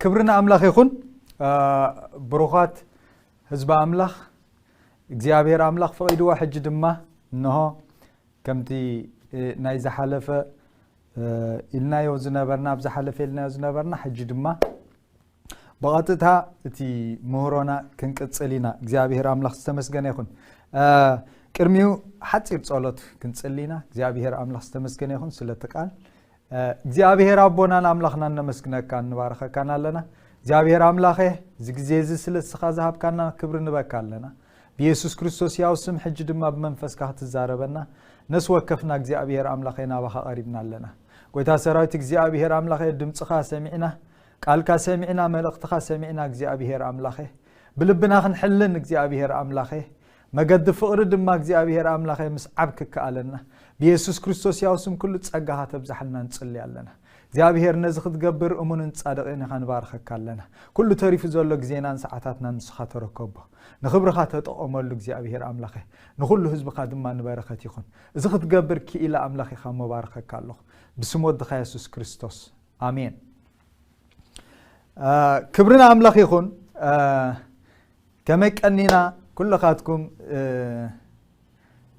ክብሪ ንኣምላኽ ይኹን ብሩኻት ህዝቢ ኣምላኽ እግዚኣብሔር ኣምላኽ ፍቒድዎ ሕጂ ድማ እንሆ ከምቲ ናይ ዝሓለፈ ኢልናዮ ዝነበርና ኣብ ዝሓለፈ ኢልናዮ ዝነበርና ሕጂ ድማ ብቐጥታ እቲ ምህሮና ክንቅጽል ኢና እግዚኣብሄር ኣምላኽ ዝተመስገነ ይኹን ቅድሚኡ ሓፂር ጸሎት ክንጽሊና እግዚኣብሄር ኣምላኽ ዝተመስገነ ይኹን ስለቲ ቃል እግዚኣብሄር ኣቦናን ኣምላኽናን ነመስግነካ ንባረኸካን ኣለና እግዚኣብሄር ኣምላኸ እዚ ግዜ እዚ ስለ እስኻ ዝሃብካና ክብሪ ንበካ ኣለና ብየሱስ ክርስቶስ ያው ስም ሕጂ ድማ ብመንፈስካ ክትዛረበና ነስ ወከፍና እግዚኣብሄር ኣምላኸ ናባኻ ቀሪብና ኣለና ጎይታ ሰራዊት እግዚኣብሄር ኣምላኸ ድምፅኻ ሰሚዕና ቃልካ ሰሚዕና መልእኽትኻ ሰሚዕና እግዚኣብሄር ኣምላኸ ብልብና ክንሕልን እግዚኣብሄር ኣምላኸ መገዲ ፍቕሪ ድማ እግዚኣብሄር ኣምላኸ ምስዓብ ክከኣለና ብየሱስ ክርስቶስ ያው ስም ኩሉ ጸጋኻ ተብዛሓልና ንጽሊ ኣለና እግዚኣብሄር ነዚ ክትገብር እሙንን ጻድቕን ኢኻ ንባርኸካ ኣለና ኩሉ ተሪፉ ዘሎ ግዜናን ሰዓታትናን ንስኻ ተረከቦ ንኽብርኻ ተጠቐመሉ እግዚኣብሄር ኣምላኸ ንኹሉ ህዝብኻ ድማ ንበረኸት ይኹን እዚ ክትገብር ክኢላ ኣምላኽ ኢኻ መባርኸካ ኣለኹ ብስም ወድኻ የሱስ ክርስቶስ ኣሜን ክብሪ ንኣምላኽ ይኹን ከመይ ቀኒና ኩልኻትኩም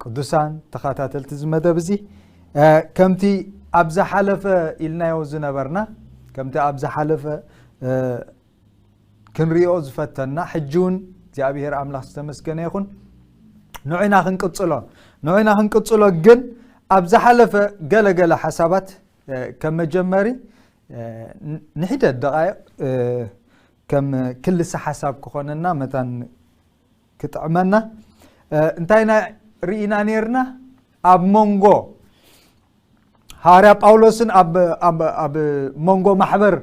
ቅዱሳን ተኸታተልቲ እዚ መደብ እዚ ከምቲ ኣብ ዝሓለፈ ኢልናዮ ዝነበርና ከምቲ ኣብ ዝሓለፈ ክንሪኦ ዝፈተና ሕጂ እውን እግዚኣብሄር ኣምላኽ ዝተመስገነ ይኹን ንዑይና ክንቅፅሎ ንዑይና ክንቅፅሎ ግን ኣብ ዝሓለፈ ገለገለ ሓሳባት ከም መጀመሪ ንሒደት ደቓይቕ ከም ክልሰ ሓሳብ ክኾነና መታን ክጥዕመና እንታይ ናይ ርኢና ነርና ኣብ መንጎ ሃዋርያ ጳውሎስን ኣብ መንጎ ማሕበር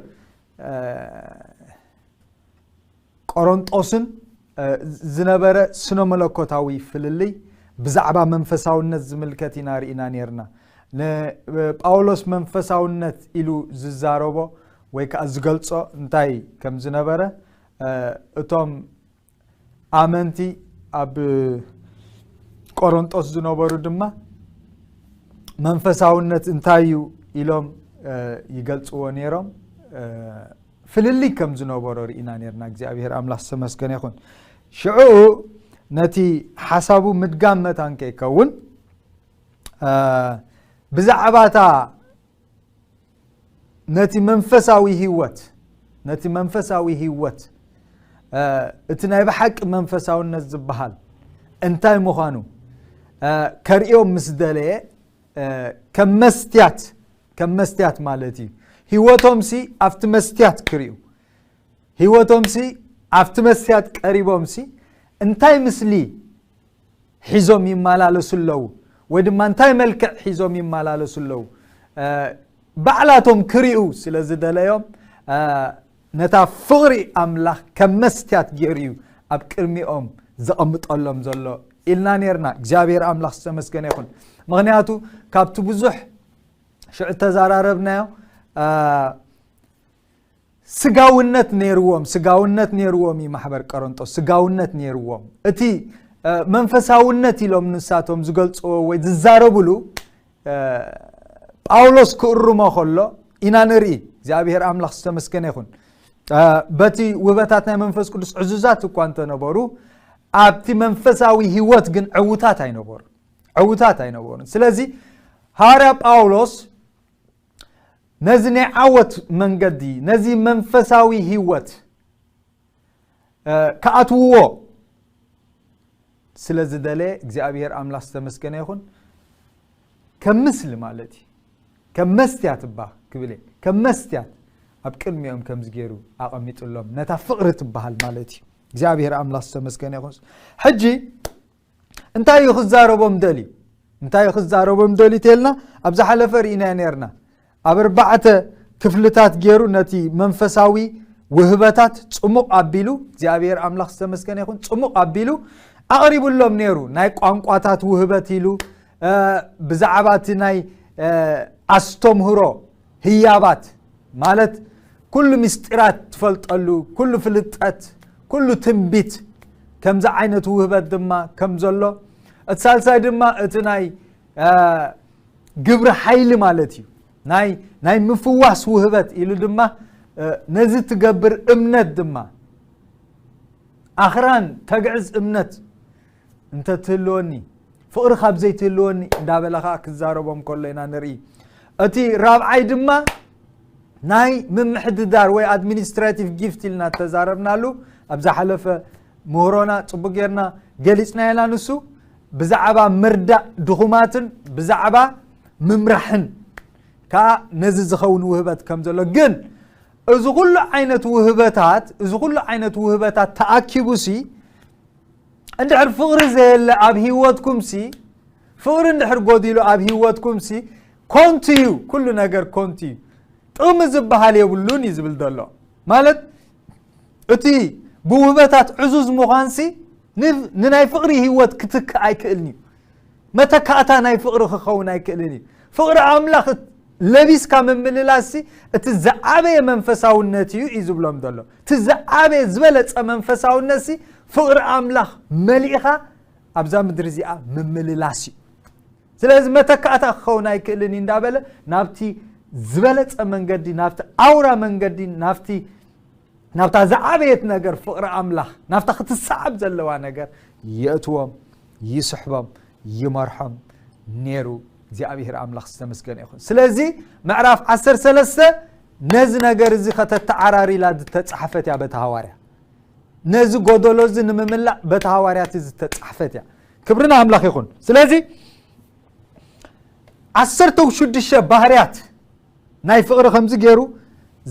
ቆሮንጦስን ዝነበረ ስነ መለኮታዊ ፍልልይ ብዛዕባ መንፈሳውነት ዝምልከት ኢና ርኢና ነርና ንጳውሎስ መንፈሳውነት ኢሉ ዝዛረቦ ወይ ከዓ ዝገልጾ እንታይ ከም ዝነበረ እቶም ኣመንቲ ኣብ ቆሮንጦስ ዝነበሩ ድማ መንፈሳውነት እንታይ እዩ ኢሎም ይገልፅዎ ነይሮም ፍልልይ ከም ዝነበሮ ርኢና ነርና እግዚኣብሄር ኣምላኽ ዝተመስገነ ይኹን ሽዑ ነቲ ሓሳቡ ምድጋም መታን ከይከውን ብዛዕባታ ነቲ መንፈሳዊ ህወት ነቲ መንፈሳዊ ህወት እቲ ናይ ብሓቂ መንፈሳውነት ዝበሃል እንታይ ምዃኑ ከርእዮም ምስ ደለየ ከም መስትያት ከም መስትያት ማለት እዩ ህወቶም ሲ ኣብቲ መስትያት ክርዩ ህወቶም ሲ ኣብቲ መስትያት ቀሪቦም ሲ እንታይ ምስሊ ሒዞም ይመላለሱ ኣለዉ ወይ ድማ እንታይ መልክዕ ሒዞም ይመላለሱ ኣለዉ ባዕላቶም ክርዩ ስለ ዝደለዮም ነታ ፍቕሪ ኣምላኽ ከም መስትያት ገይሩ እዩ ኣብ ቅድሚኦም ዘቐምጠሎም ዘሎ ኢልና ነርና እግዚኣብሔር ኣምላኽ ዝተመስገነ ይኹን ምክንያቱ ካብቲ ብዙሕ ሽዑ ተዘራረብናዮ ስጋውነት ነይርዎም ስጋውነት ነይርዎም እዩ ማሕበር ቀረንጦስ ስጋውነት ነይርዎም እቲ መንፈሳውነት ኢሎም ንሳቶም ዝገልፅዎ ወይ ዝዛረብሉ ጳውሎስ ክእርሞ ከሎ ኢና ንርኢ እግዚኣብሔር ኣምላኽ ዝተመስገነ ይኹን በቲ ውህበታት ናይ መንፈስ ቅዱስ ዕዙዛት እኳ እንተነበሩ ኣብቲ መንፈሳዊ ህይወት ግን ዕውታት ኣይነበሩ ዕውታት ኣይነበሩን ስለዚ ሃዋርያ ጳውሎስ ነዚ ናይ ዓወት መንገዲ ነዚ መንፈሳዊ ህይወት ክኣትውዎ ስለ ዝደለየ እግዚኣብሄር ኣምላኽ ዝተመስገነ ይኹን ከም ምስሊ ማለት እዩ ከም መስትያት እባ ክብል እየ ከም መስትያት ኣብ ቅድሚኦም ከምዚ ገይሩ ኣቐሚጡሎም ነታ ፍቕሪ ትበሃል ማለት እዩ እግዚኣብሄር ኣምላኽ ዝተመስገነ ይኹን ሕጂ እንታይ እዩ ክዛረቦም ደልዩ እንታይ ክዛረቦም ደልዩ ተልና ኣብ ዝሓለፈ ርኢናዮ ነርና ኣብ ኣርባዕተ ክፍልታት ገይሩ ነቲ መንፈሳዊ ውህበታት ፅሙቕ ኣቢሉ እግዚኣብሔር ኣምላኽ ዝተመስገነ ይኹን ፅሙቕ ኣቢሉ ኣቕሪብሎም ነይሩ ናይ ቋንቋታት ውህበት ኢሉ ብዛዕባ እቲ ናይ ኣስተምህሮ ህያባት ማለት ኩሉ ምስጢራት ትፈልጠሉ፣ ኩሉ ፍልጠት፣ ኩሉ ትንቢት ከምዚ ዓይነት ውህበት ድማ ከም ዘሎ እቲ ሳልሳይ ድማ እቲ ናይ ግብሪ ሓይሊ ማለት እዩ ናይ ምፍዋስ ውህበት ኢሉ ድማ ነዚ ትገብር እምነት ድማ ኣኽራን ተግዕዝ እምነት እንተ ትህልወኒ ፍቕሪ ካብ ዘይትህልወኒ እንዳበለ ከዓ ክዛረቦም ከሎ ኢና ንርኢ እቲ ራብዓይ ድማ ናይ ምምሕድዳር ወይ ኣድሚኒስትራቲቭ ጊፍት ኢልና ተዛረብናሉ ኣብ ዝሓለፈ ምህሮና ፅቡቅ ጌርና ገሊፅና ኢና ንሱ ብዛዕባ ምርዳእ ድኹማትን ብዛዕባ ምምራሕን ከዓ ነዚ ዝኸውን ውህበት ከም ዘሎ ግን እዚ ኩሉ ዓይነት ውህበታት እዚ ኩሉ ዓይነት ውህበታት ተኣኪቡሲ እንድሕር ፍቕሪ ዘየለ ኣብ ህይወትኩምሲ ፍቕሪ እንድሕር ጎዲሉ ኣብ ህይወትኩምሲ ኮንቱ እዩ ኩሉ ነገር ኮንቱ እዩ ጥቕሚ ዝበሃል የብሉን እዩ ዝብል ዘሎ ማለት እቲ ብውህበታት ዕዙዝ ምዃንሲ ንናይ ፍቕሪ ህይወት ክትክእ ኣይክእልን እዩ መተካእታ ናይ ፍቕሪ ክኸውን ኣይክእልን እዩ። ፍቕሪ ኣምላኽ ለቢስካ ምምልላስሲ እቲ ዝዓበየ መንፈሳውነት እዩ እዩ ዝብሎም ዘሎ እቲ ዝዓበየ ዝበለፀ መንፈሳውነት ሲ ፍቕሪ ኣምላኽ መሊእኻ ኣብዛ ምድሪ እዚኣ ምምልላስ እዩ ስለዚ መተካእታ ክኸውን ኣይክእልን እዩ እንዳበለ ናብቲ ዝበለፀ መንገዲ ናብቲ ኣውራ መንገዲ ናብቲ ናብታ ዝዓበየት ነገር ፍቕሪ ኣምላኽ ናብታ ክትሰዓብ ዘለዋ ነገር የእትዎም ይስሕቦም ይመርሖም ነሩ እግዚኣብሔር ኣምላኽ ዝተመስገነ ይኹን ስለዚ ምዕራፍ ዓሰር ሰለስተ ነዚ ነገር እዚ ከተተዓራሪላ ዝተፃሕፈት እያ በቲ ሃዋርያ ነዚ ጎደሎ እዚ ንምምላእ በቲ ሃዋርያት ዝተፃሕፈት እያ ክብርና ኣምላኽ ይኹን ስለዚ ዓሰርተ ሽዱሽተ ባህርያት ናይ ፍቕሪ ከምዚ ገይሩ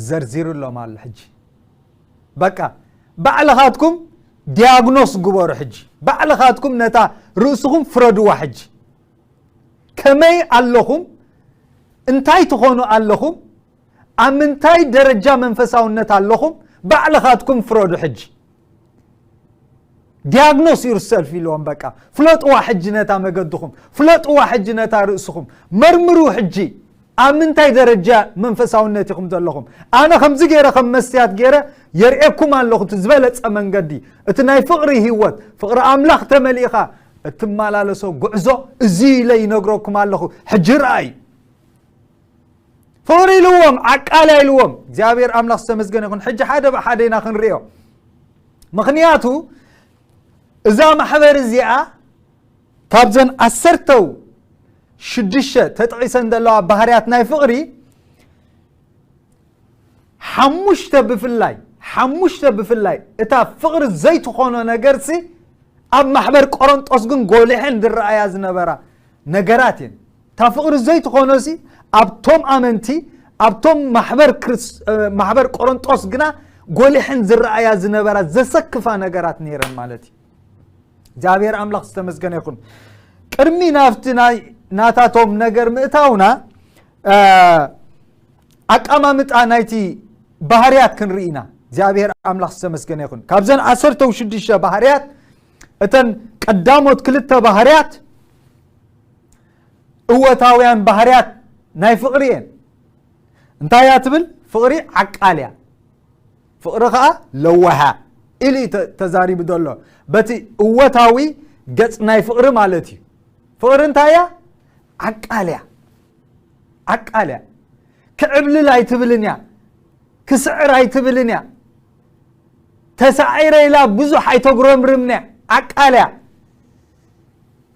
ዘርዚሩ ኣሎም ኣሎ ሕጂ በቃ ባዕልኻትኩም ዲያግኖስ ግበሩ ሕጂ ባዕልኻትኩም ነታ ርእስኹም ፍረድዋ ሕጂ ከመይ ኣለኹም እንታይ ትኾኑ ኣለኹም ኣብ ምንታይ ደረጃ መንፈሳውነት ኣለኹም ባዕልኻትኩም ፍረዱ ሕጂ ዲያግኖስ ዩር ሰልፍ ኢልዎም በቃ ፍለጥዋ ሕጂ ነታ መገድኹም ፍለጥዋ ሕጂ ነታ ርእስኹም መርምሩ ሕጂ ኣብ ምንታይ ደረጃ መንፈሳውነት ኢኹም ዘለኹም ኣነ ከምዚ ገይረ ከም መስትያት ገይረ የርእኩም ኣለኹ እቲ ዝበለፀ መንገዲ እቲ ናይ ፍቕሪ ህይወት ፍቕሪ ኣምላኽ ተመሊእኻ እትመላለሶ ጉዕዞ እዚ ኢለ ይነግረኩም ኣለኹ ሕጂ ረኣይ ፍቕሪ ኢልዎም ዓቃልያ ኢልዎም እግዚኣብሔር ኣምላኽ ዝተመስገነ ይኹን ሕጂ ሓደ ብሓደ ኢና ክንሪኦ ምክንያቱ እዛ ማሕበር እዚኣ ካብዘን ዓሰርተው ሽዱሽተ ተጥዒሰን ዘለዋ ባህርያት ናይ ፍቕሪ ሓሙሽተ ብፍላይ ሓሙሽተ ብፍላይ እታ ፍቕሪ ዘይትኾኖ ነገርሲ ኣብ ማሕበር ቆሮንጦስ ግን ጎሊሐን ዝረኣያ ዝነበራ ነገራት እየን እታ ፍቕሪ ዘይትኾኖሲ ኣብቶም ኣመንቲ ኣብቶም ማሕበር ቆሮንጦስ ግና ጎሊሐን ዝረኣያ ዝነበራ ዘሰክፋ ነገራት ነይረን ማለት እዩ እግዚኣብሔር ኣምላኽ ዝተመስገነ ይኹን ቅድሚ ናብቲ ናይ ናታቶም ነገር ምእታውና ኣቀማምጣ ናይቲ ባህርያት ክንርኢ ኢና እግዚኣብሔር ኣምላኽ ዝተመስገነ ይኹን ካብዘን ዓሰርተው ሽዱሽተ ባህርያት እተን ቀዳሞት ክልተ ባህርያት እወታውያን ባህርያት ናይ ፍቕሪ እየን እንታይ እያ ትብል ፍቕሪ ዓቃል እያ ፍቕሪ ከዓ ለዋሃ ኢሉ እዩ ተዛሪቡ ዘሎ በቲ እወታዊ ገፅ ናይ ፍቕሪ ማለት እዩ ፍቕሪ እንታይ እያ ዓቃል እያ ዓቃል እያ ክዕብልል ኣይትብልን እያ ክስዕር ኣይትብልን እያ ተሳዒረ ኢላ ብዙሕ ኣይተጉረምርምንያ ዓቃል እያ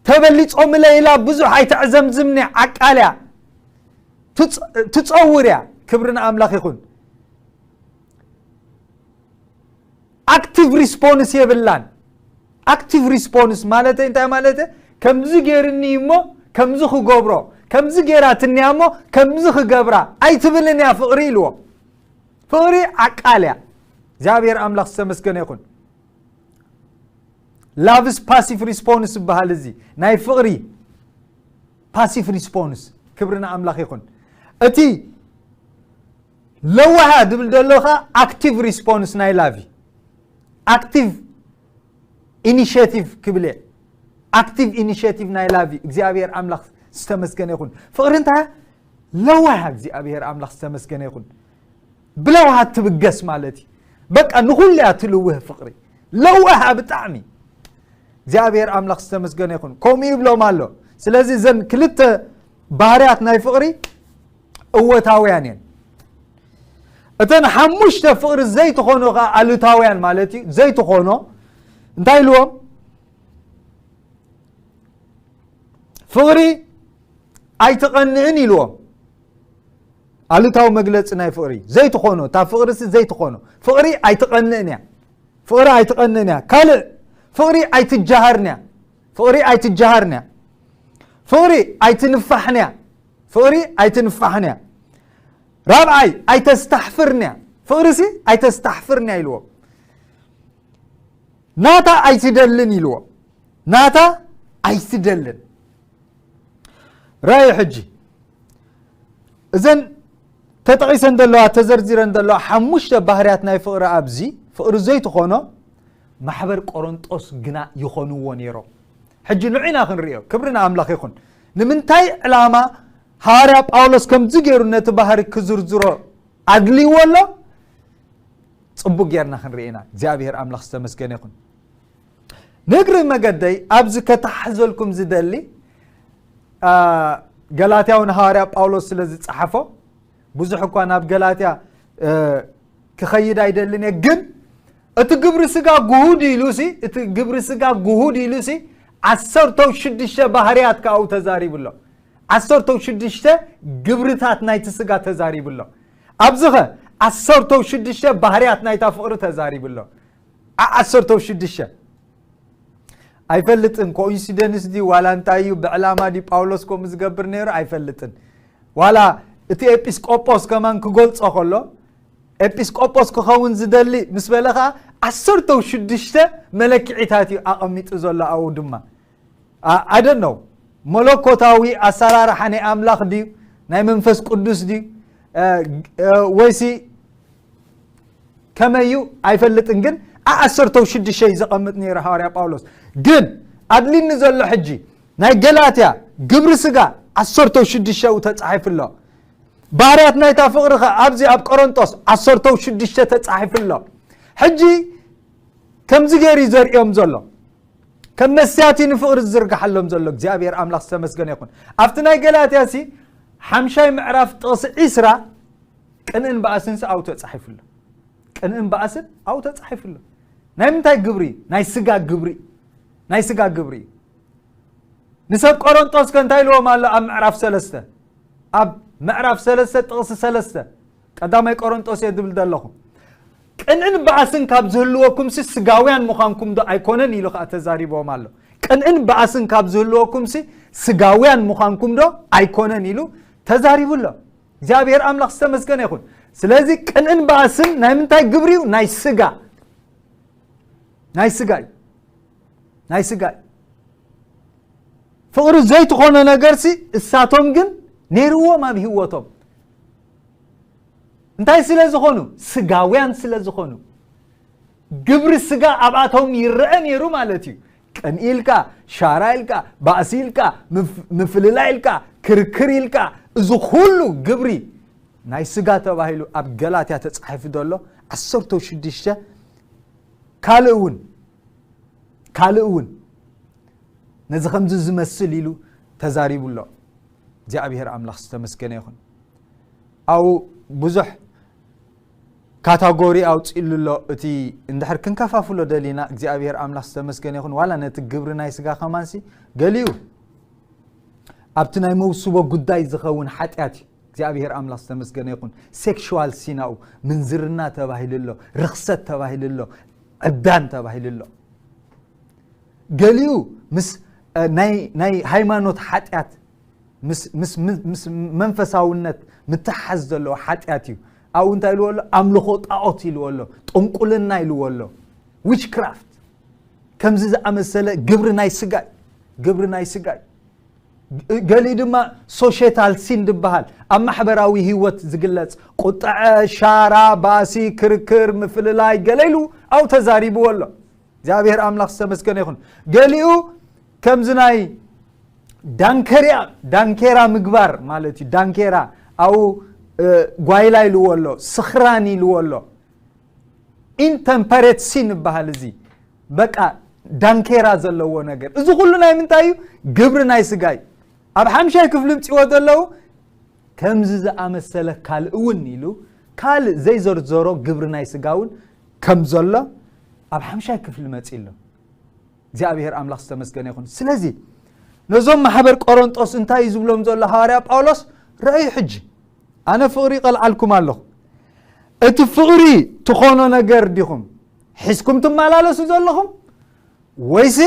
ተበሊጾምለ ኢላ ብዙሕ ኣይተዕዘምዝምኒ ዓቃልያ ትፀውር እያ ክብሪ ንኣምላኽ ይኹን ኣክቲቭ ሪስፖንስ የብላን ኣክቲቭ ሪስፖንስ ማለት እንታይ ማለት ከምዚ ገይርኒ እሞ ከምዚ ክገብሮ ከምዚ ገይራ ትንያ እሞ ከምዚ ክገብራ ኣይትብልን እያ ፍቕሪ ኢልዎ ፍቕሪ ዓቃል እያ እግዚኣብሔር ኣምላኽ ዝተመስገነ ይኹን ላቭስ ፓሲቭ ሪስፖንስ ዝበሃል እዚ ናይ ፍቕሪ ፓሲቭ ሪስፖንስ ክብሪ ንኣምላኽ ይኹን እቲ ለዋሃ ዝብል ዘሎ ከ ኣክቲቭ ሪስፖንስ ናይ ላቭ እዩ ኣክቲቭ ኢኒሽቲቭ ክብል እየ ኣክቲቭ ኢኒሽቲቭ ናይ ላቭ እዩ እግዚኣብሔር ኣምላኽ ዝተመስገነ ይኹን ፍቕሪ እንታይ ለዋሃ እግዚኣብሔር ኣምላኽ ዝተመስገነ ይኹን ብለውሃት ትብገስ ማለት እዩ በቃ ንኹሉ እያ ትልውህ ፍቕሪ ለዋሃ ብጣዕሚ እግዚኣብሔር ኣምላኽ ዝተመስገነ ይኹን ከምኡ ይብሎም ኣሎ ስለዚ እዘን ክልተ ባህርያት ናይ ፍቕሪ እወታውያን እየን እተን ሓሙሽተ ፍቕሪ ዘይትኾኑ ከዓ ኣሉታውያን ማለት እዩ ዘይትኾኖ እንታይ ኢልዎም ፍቕሪ ኣይትቐንእን ኢልዎም ኣሉታዊ መግለጺ ናይ ፍቕሪ ዘይትኾኖ እታ ፍቕሪሲ ዘይትኾኖ ፍቕሪ ኣይትቐንእን እያ ፍቕሪ ኣይትቐንእን እያ ካልእ ፍቕሪ ኣይትጀሃርን እያ ፍቕሪ ኣይትጀሃርን እያ ፍቕሪ ኣይትንፋሕን እያ ፍቕሪ ኣይትንፋሕን እያ ራብዓይ ኣይተስታሕፍርን እያ ፍቕሪሲ ኣይተስታሕፍርን እያ ኢልዎ ናታ ኣይትደልን ኢልዎ ናታ ኣይትደልን ራእዩ ሕጂ እዘን ተጠቒሰን ዘለዋ ተዘርዚረን ዘለዋ ሓሙሽተ ባህርያት ናይ ፍቕሪ ኣብዚ ፍቕሪ ዘይትኾኖ ማሕበር ቆሮንጦስ ግና ይኾንዎ ነይሮም ሕጂ ንዑና ክንሪኦ ክብሪ ንኣምላኽ ይኹን ንምንታይ ዕላማ ሃዋርያ ጳውሎስ ከምዚ ገይሩ ነቲ ባህሪ ክዝርዝሮ ኣድልይዎ ኣሎ ፅቡቅ ጌርና ክንርኢና እግዚኣብሔር ኣምላኽ ዝተመስገነ ይኹን ንእግሪ መገደይ ኣብዚ ከታሕዘልኩም ዝደሊ ገላትያዊ ንሃዋርያ ጳውሎስ ስለ ዝጸሓፎ ብዙሕ እኳ ናብ ገላትያ ክኸይድ ኣይደልን እየ ግን እቲ ግብሪ ስጋ ጉሁድ ኢሉ ሲ እቲ ግብሪ ስጋ ጉሁድ ኢሉ ሲ ዓሰርተው ሽዱሽተ ባህርያት ከኣኡ ተዛሪቡ ኣሎ ዓሰርተው ሽዱሽተ ግብርታት ናይቲ ስጋ ተዛሪቡ ኣሎ ኣብዚ ኸ ዓሰርተው ሽዱሽተ ባህርያት ናይታ ፍቕሪ ተዛሪቡ ኣሎ ዓ ዓሰርተው ሽዱሽተ ኣይፈልጥን ኮኢንሲደንስ ድዩ ዋላ እንታይ እዩ ብዕላማ ድዩ ጳውሎስ ከምኡ ዝገብር ነይሩ ኣይፈልጥን ዋላ እቲ ኤጲስቆጶስ ከማን ክገልጾ ከሎ ኤጲስቆጶስ ክኸውን ዝደሊ ምስ በለ ከዓ ዓሰርተው ሽዱሽተ መለክዒታት እዩ ኣቐሚጡ ዘሎ ኣው ድማ I don't know መለኮታዊ ኣሰራርሓ ናይ ኣምላኽ ድዩ ናይ መንፈስ ቅዱስ ድዩ ወይሲ ከመይ እዩ ኣይፈልጥን ግን ዓሰርተው ሽዱሽተ እዩ ዘቐምጥ ነይሩ ሃዋርያ ጳውሎስ ግን ኣድሊኒ ዘሎ ሕጂ ናይ ገላትያ ግብሪ ስጋ ዓሰርተው ሽዱሽተኡ ተጻሒፉ ኣሎ ባህርያት ናይታ ፍቕሪ ኸ ኣብዚ ኣብ ቆሮንጦስ ዓሰርተው ሽዱሽተ ተጻሒፉ ኣሎ ሕጂ ከምዚ ገይሩ እዩ ዘርእዮም ዘሎ ከም መስትያት እዩ ንፍቕሪ ዝዝርግሓሎም ዘሎ እግዚኣብሔር ኣምላኽ ዝተመስገነ ይኹን ኣብቲ ናይ ገላትያ ሲ ሓምሻይ ምዕራፍ ጥቕሲ ዒስራ ቅንእን በኣስን ሲ ኣብኡ ተፃሒፉ ኣሎ ቅንእን በኣስን ኣብኡ ተፃሒፉ ኣሎ ናይ ምንታይ ግብሪ እዩ ናይ ስጋ ግብሪ ናይ ስጋ ግብሪ እዩ ንሰብ ቆሮንጦስ ከ እንታይ ኢልዎም ኣሎ ኣብ ምዕራፍ ሰለስተ ኣብ ምዕራፍ ሰለስተ ጥቕሲ ሰለስተ ቀዳማይ ቆሮንጦስ እየ ዝብል ዘለኹ ቅንእን ባእስን ካብ ዝህልወኩምሲ ስጋውያን ምዃንኩምዶ ኣይኮነን ኢሉ ከኣ ተዛሪብዎም ኣሎ። ቅንእን ባእስን ካብ ዝህልወኩምሲ ስጋውያን ምዃንኩምዶ ኣይኮነን ኢሉ ተዛሪቡ ኣሎ። እግዚኣብሔር ኣምላኽ ዝተመስገነ ይኹን። ስለዚ ቅንእን ባእስን ናይ ምንታይ ግብሪ እዩ? ናይ ስጋ ናይ ስጋ እዩ ናይ ስጋ እዩ ፍቕሪ ዘይትኾነ ነገርሲ እሳቶም ግን ነይርዎም ኣብ ህይወቶም እንታይ ስለ ዝኾኑ ስጋውያን ስለ ዝኾኑ ግብሪ ስጋ ኣብኣቶም ይረአ ነይሩ ማለት እዩ ቅንኢ ኢልካ ሻራ ኢልካ ባእሲ ኢልካ ምፍልላይ ኢልካ ክርክር ኢልካ እዚ ኩሉ ግብሪ ናይ ስጋ ተባሂሉ ኣብ ገላትያ ተፃሒፉ ዘሎ ዓሰርተ ሽዱሽተ ካልእ እውን ካልእ እውን ነዚ ከምዚ ዝመስል ኢሉ ተዛሪቡ ኣሎ እግዚኣብሄር ኣምላኽ ዝተመስገነ ይኹን ኣብኡ ብዙሕ ካታጎሪ ኣውፅእሉ ኣሎ እቲ እንድሕር ክንከፋፍሎ ደሊና እግዚኣብሔር ኣምላኽ ዝተመስገነ ይኹን ዋላ ነቲ ግብሪ ናይ ስጋ ከማንሲ ገሊኡ ኣብቲ ናይ መውስቦ ጉዳይ ዝኸውን ሓጢኣት እዩ እግዚኣብሔር ኣምላኽ ዝተመስገነ ይኹን ሴክሽዋል ሲናኡ ምንዝርና ተባሂሉ ኣሎ ርክሰት ተባሂሉ ኣሎ ዕብዳን ተባሂሉ ኣሎ ገሊኡ ምስ ናይ ሃይማኖት ሓጢኣት ምስ መንፈሳውነት ምትሓዝ ዘለዎ ሓጢኣት እዩ ኣብኡ እንታይ ኢልዎ ኣሎ ኣምልኾ ጣዖት ኢልዎ ኣሎ ጥንቁልና ኢልዎ ኣሎ ዊችክራፍት ከምዚ ዝኣመሰለ ግብሪ ናይ ስጋ እዩ ግብሪ ናይ ስጋ እዩ ገሊኡ ድማ ሶሽታል ሲን ዝበሃል ኣብ ማሕበራዊ ህይወት ዝግለጽ ቁጥዐ ሻራ ባሲ ክርክር ምፍልላይ ገለ ኢሉ ኣብኡ ተዛሪብዎ ኣሎ እግዚኣብሔር ኣምላኽ ዝተመስገነ ይኹን ገሊኡ ከምዚ ናይ ዳንከርያ ዳንኬራ ምግባር ማለት እዩ ዳንኬራ ኣው ጓይላ ኢልዎ ኣሎ ስኽራን ኢልዎ ኣሎ ኢንተምፐሬት ሲን ይበሃል እዚ በቃ ዳንኬራ ዘለዎ ነገር እዚ ኩሉ ናይ ምንታይ እዩ ግብሪ ናይ ስጋ እዩ ኣብ ሓምሻይ ክፍሊ ምፅዎ ዘለዉ ከምዚ ዝኣመሰለ ካልእ እውን ኢሉ ካልእ ዘይዘርዘሮ ግብሪ ናይ ስጋ እውን ከም ዘሎ ኣብ ሓምሻይ ክፍሊ መጺ ኣሎ እግዚኣብሔር ኣምላኽ ዝተመስገነ ይኹን ስለዚ ነዞም ማሕበር ቆሮንጦስ እንታይ እዩ ዝብሎም ዘሎ ሃዋርያ ጳውሎስ ረኣዩ ሕጂ ኣነ ፍቕሪ ይቐልዓልኩም ኣለኹ እቲ ፍቕሪ ትኾኖ ነገር ዲኹም ሒዝኩም ትመላለሱ ዘለኹም ወይሲ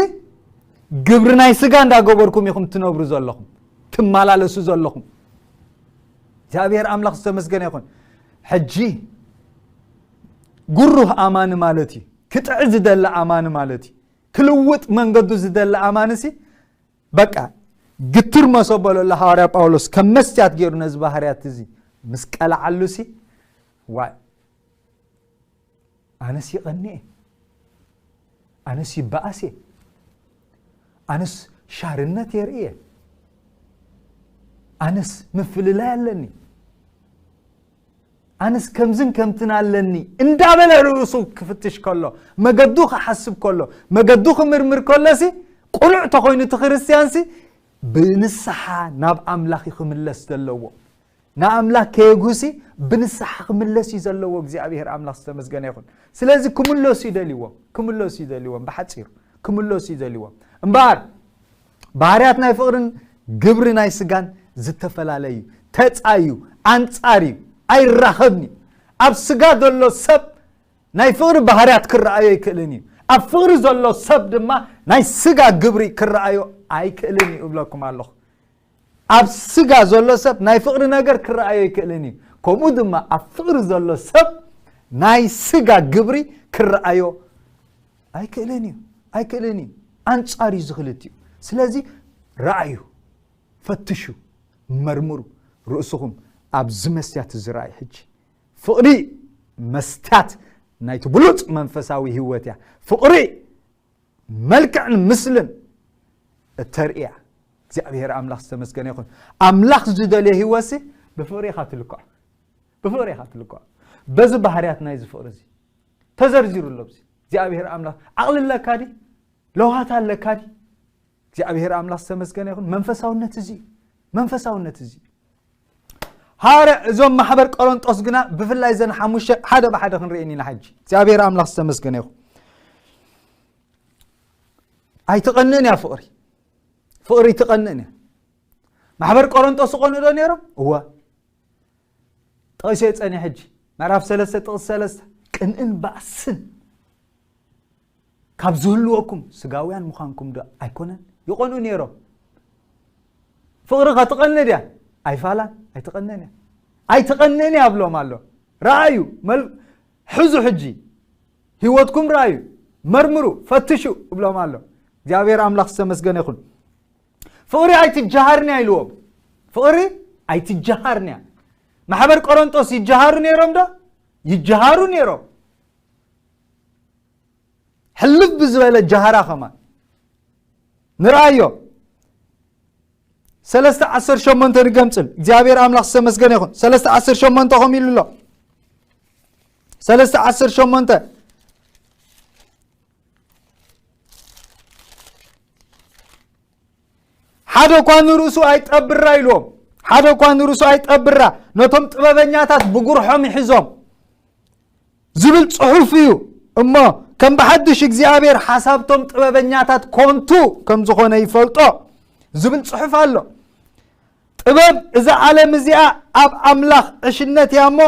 ግብሪ ናይ ስጋ እንዳገበርኩም ኢኹም ትነብሩ ዘለኹም ትመላለሱ ዘለኹም እግዚኣብሔር ኣምላኽ ዝተመስገነ ይኹን ሕጂ ግሩህ ኣማኒ ማለት እዩ ክጥዕ ዝደሊ ኣማኒ ማለት እዩ ክልውጥ መንገዱ ዝደሊ ኣማንሲ በቃ ግትር መሶ በለሎ ሃዋርያ ጳውሎስ ከም መስትያት ገይሩ ነዚ ባህርያት እዚ ምስ ቀላዓሉሲ ዋይ ኣነስ ይቐኒ እየ ኣነስ ይበኣስ እየ ኣነስ ሻርነት የርኢ እየ ኣነስ ምፍልላይ ኣለኒ ኣነስ ከምዝን ከምትን ኣለኒ እንዳበለ ርእሱ ክፍትሽ ከሎ መገዱ ክሓስብ ከሎ መገዱ ክምርምር ከሎሲ ቁኑዕ ተኾይኑ እቲ ክርስትያንሲ ብንስሓ ናብ ኣምላኽ እዩ ክምለስ ዘለዎ ንኣምላክ ከየጉሲ ብንስሓ ክምለስ እዩ ዘለዎ እግዚኣብሄር ኣምላኽ ዝተመስገነ ይኹን ስለዚ ክምለሱ ይደልዎም ክምለሱ ይደልዎም ብሓፂሩ ክምለሱ ይደልዎም እምበኣር ባህርያት ናይ ፍቕርን ግብሪ ናይ ስጋን ዝተፈላለ እዩ። ተጻ እዩ፣ ኣንጻር እዩ፣ ኣይራኸብን እዩ። ኣብ ስጋ ዘሎ ሰብ ናይ ፍቕሪ ባህርያት ክረኣዮ ኣይክእልን እዩ። ኣብ ፍቕሪ ዘሎ ሰብ ድማ ናይ ስጋ ግብሪ ክረኣዮ ኣይክእልን እዩ እብለኩም ኣለኹ። ኣብ ስጋ ዘሎ ሰብ ናይ ፍቕሪ ነገር ክረኣዮ ኣይክእልን እዩ ከምኡ ድማ ኣብ ፍቕሪ ዘሎ ሰብ ናይ ስጋ ግብሪ ክረኣዮ ኣይክእልን እዩ ኣይክእልን እዩ ኣንጻር እዩ ዝክልትኡ ስለዚ ረኣዩ ፈትሹ መርምሩ ርእስኹም ኣብዚ መስትያት እዚ ረኣዩ ሕጂ ፍቕሪ መስትያት ናይቲ ብሉፅ መንፈሳዊ ህይወት እያ ፍቕሪ መልክዕን ምስልን እተርእያ እግዚኣብሔር ኣምላኽ ዝተመስገነ ይኹን ኣምላኽ ዝደልዮ ህይወት ሲ ብፍቕሪ ኢኻ ትልክዖ ብፍቕሪ ኢኻ ትልክዖ በዚ ባህርያት ናይዚ ፍቕሪ እዚ ተዘርዚሩ ኣሎ ኣብዚ እግዚኣብሔር ኣምላኽ ዓቕሊ ኣለካ ዲ ለውሃት ኣለካ ዲ እግዚኣብሔር ኣምላኽ ዝተመስገነ ይኹን መንፈሳውነት እዚ እዩ መንፈሳውነት እዚ እዩ ሃዋርያ እዞም ማሕበር ቆሮንጦስ ግና ብፍላይ ዘን ሓሙሽተ ሓደ ብሓደ ክንርእየን ኢና ሕጂ እግዚኣብሔር ኣምላኽ ዝተመስገነ ይኹን ኣይትቐንእን እያ ፍቕሪ ፍቕሪ ይትቐንእን እያ ማሕበር ቆሮንጦስ ይቐንኡ ዶ ነይሮም እወ ጠቒሰዮ ጸኒሐ ሕጂ ምዕራፍ ሰለስተ ጥቕሲ ሰለስተ ቅንእን ባእስን ካብ ዝህልወኩም ስጋውያን ምዃንኩም ዶ ኣይኮነን ይቖንኡ ነይሮም ፍቕሪ ከትቐንድ እያ ኣይፋላን ኣይትቐንን እያ ኣይትቐንን እያ ብሎም ኣሎ ረኣዩ ሕዙ ሕጂ ህይወትኩም ረኣዩ መርምሩ ፈትሹ እብሎም ኣሎ እግዚኣብሔር ኣምላኽ ዝተመስገነ ይኹን ፍቕሪ ኣይትጀሃርንያ ኢልዎም ፍቕሪ ኣይትጀሃርንያ ማሕበር ቆሮንጦስ ይጀሃሩ ነይሮም ዶ ይጀሃሩ ነይሮም ሕልፍ ብዝበለ ጀሃራ ኸማ ንርኣዮ ሰለስተ ዓሰርተ ሸሞንተ ንገምፅል እግዚኣብሔር ኣምላኽ ዝተመስገነ ይኹን ሰለስተ ዓሰርተ ሸሞንተ ኸም ኢሉ ኣሎ ሰለስተ ዓሰርተ ሸሞንተ ሓደ እኳ ንርእሱ ኣይጠብራ ኢልዎም ሓደ እኳ ንርእሱ ኣይጠብራ ነቶም ጥበበኛታት ብጉርሖም ይሕዞም ዝብል ጽሑፍ እዩ እሞ ከም ብሓድሽ እግዚኣብሔር ሓሳብቶም ጥበበኛታት ኮንቱ ከም ዝኾነ ይፈልጦ ዝብል ጽሑፍ ኣሎ ጥበብ እዛ ዓለም እዚኣ ኣብ ኣምላኽ ዕሽነት እያ እሞ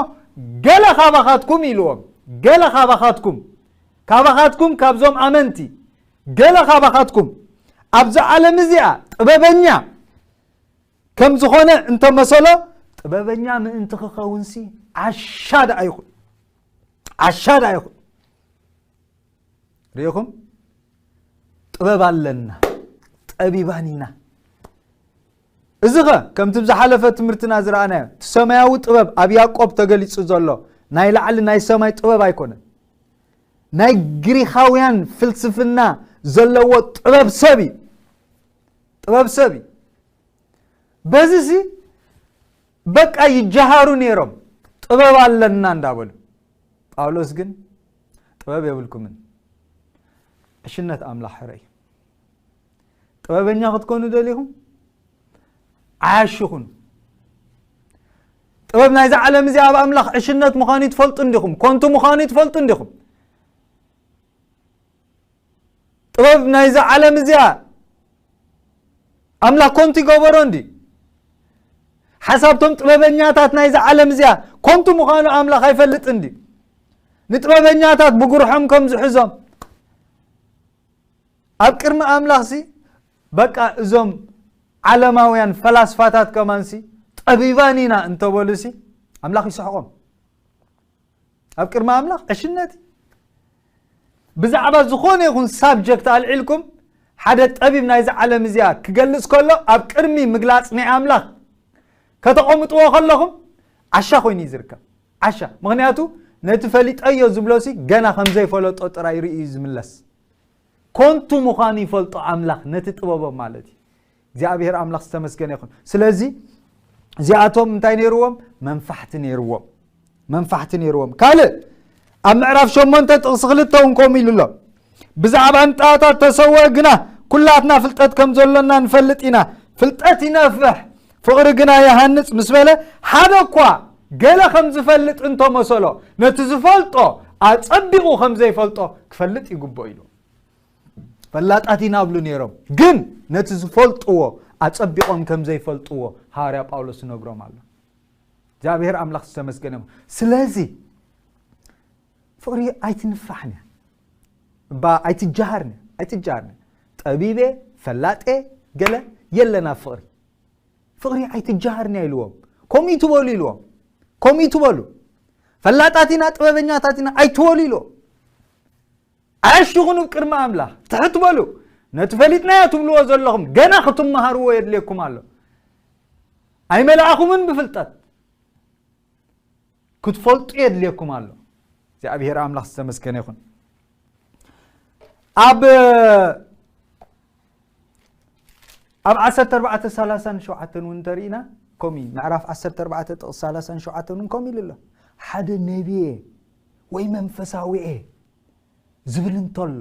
ገለ ካባኻትኩም ኢልዎም ገለ ካባኻትኩም ካባኻትኩም ካብዞም ኣመንቲ ገለ ካባኻትኩም ኣብዛ ዓለም እዚኣ ጥበበኛ ከም ዝኾነ እንተመሰሎ ጥበበኛ ምእንቲ ክኸውንሲ ዓሻ ደኣ ይኹን ዓሻ ደኣ ይኹን ሪኢኹም ጥበብ ኣለና ጠቢባን ኢና እዚኸ ከምቲ ብ ዝሓለፈ ትምህርትና ዝረኣናዮ እቲ ሰማያዊ ጥበብ ኣብ ያእቆብ ተገሊጹ ዘሎ ናይ ላዕሊ ናይ ሰማይ ጥበብ ኣይኮነን ናይ ግሪኻውያን ፍልስፍና ዘለዎ ጥበብ ሰብ እዩ ጥበብ ሰብ እዩ በዚሲ በቃ ይጀሃሩ ነይሮም ጥበብ ኣለና እንዳበሉ ጳውሎስ ግን ጥበብ የብልኩምን ዕሽነት ኣምላኽ ሕረ እዩ ጥበበኛ ክትኮኑ ደሊኹም ዓያሹ ኹኑ ጥበብ ናይዚ ዓለም እዚ ኣብ ኣምላኽ ዕሽነት ምዃኑ ትፈልጡ እንዲኹም ኮንቱ ምዃኑ ትፈልጡ እንዲኹም ጥበብ ናይዚ ዓለም እዚኣ ኣምላኽ ኮንቱ ይገበሮ እንዲ ሓሳብቶም ጥበበኛታት ናይዚ ዓለም እዚኣ ኮንቱ ምዃኑ ኣምላኽ ኣይፈልጥ እንዲ ንጥበበኛታት ብጉርሖም ከም ዝሕዞም ኣብ ቅድሚ ኣምላኽሲ በቃ እዞም ዓለማውያን ፈላስፋታት ከማንሲ ጠቢባን ኢና እንተበሉሲ ኣምላኽ ይስሕቆም ኣብ ቅድሚ ኣምላኽ ዕሽነት ብዛዕባ ዝኾነ ይኹን ሳብጀክት ኣልዒልኩም ሓደ ጠቢብ ናይዚ ዓለም እዚኣ ክገልጽ ከሎ ኣብ ቅድሚ ምግላጽ ናይ ኣምላኽ ከተቐምጥዎ ከለኹም ዓሻ ኮይኑ እዩ ዝርከብ ዓሻ ምኽንያቱ ነቲ ፈሊጠዮ ዝብሎሲ ገና ከም ዘይፈለጦ ጥራይ ርእዩ እዩ ዝምለስ ኮንቱ ምዃኑ ይፈልጦ ኣምላኽ ነቲ ጥበቦም ማለት እዩ እግዚኣብሔር ኣምላኽ ዝተመስገነ ይኹን ስለዚ እዚኣቶም እንታይ ነይርዎም መንፋሕቲ ነይርዎም መንፋሕቲ ነይርዎም ካልእ ኣብ ምዕራፍ ሸሞንተ ጥቕሲ ክልተ እውን ከምኡ ኢሉ ኣሎ ብዛዕባ እንጣታ ተሰወ ግና ኩላትና ፍልጠት ከም ዘሎና ንፈልጥ ኢና። ፍልጠት ይነፍሕ ፍቕሪ ግና ይሃንጽ ምስ በለ ሓደ እኳ ገለ ከም ዝፈልጥ እንተ መሰሎ ነቲ ዝፈልጦ ኣጸቢቑ ከም ዘይፈልጦ ክፈልጥ ይግብኦ ኢሉ ፈላጣት ኢና ብሉ ነይሮም ግን ነቲ ዝፈልጥዎ ኣጸቢቖም ከም ዘይፈልጥዎ ሃዋርያ ጳውሎስ ይነግሮም ኣሎ እግዚኣብሔር ኣምላኽ ዝተመስገነ ስለዚ ፍቕሪ ኣይትንፋሕንያ እባ ኣይትጀሃርንያ ኣይትጀሃርንያ ጠቢቤ ፈላጤ ገለ የለን ኣብ ፍቕሪ ፍቕሪ ኣይትጀሃርንያ ኢልዎም ከምኡ ትበሉ ኢልዎም ከምኡ ትበሉ ፈላጣት ኢና ጥበበኛታት ኢና ኣይትበሉ ኢልዎም ዓሽ ይኹኑ ቅድሚ ኣምላኽ ትሕት በሉ ነቲ ፈሊጥናዮ ትብልዎ ዘለኹም ገና ክትመሃርዎ የድልየኩም ኣሎ ኣይመልኣኹምን ብፍልጠት ክትፈልጡ የድልየኩም ኣሎ እግዚኣብሔር ኣምላኽ ዝተመስገነ ይኹን ኣብ ኣብ 14 37 እውን እንተርኢና ከምኡ ምዕራፍ 14 ጥቕስ 37 እውን ከምኡ ኢሉ ኣሎ ሓደ ነቢየ ወይ መንፈሳዊ እየ ዝብል እንተሎ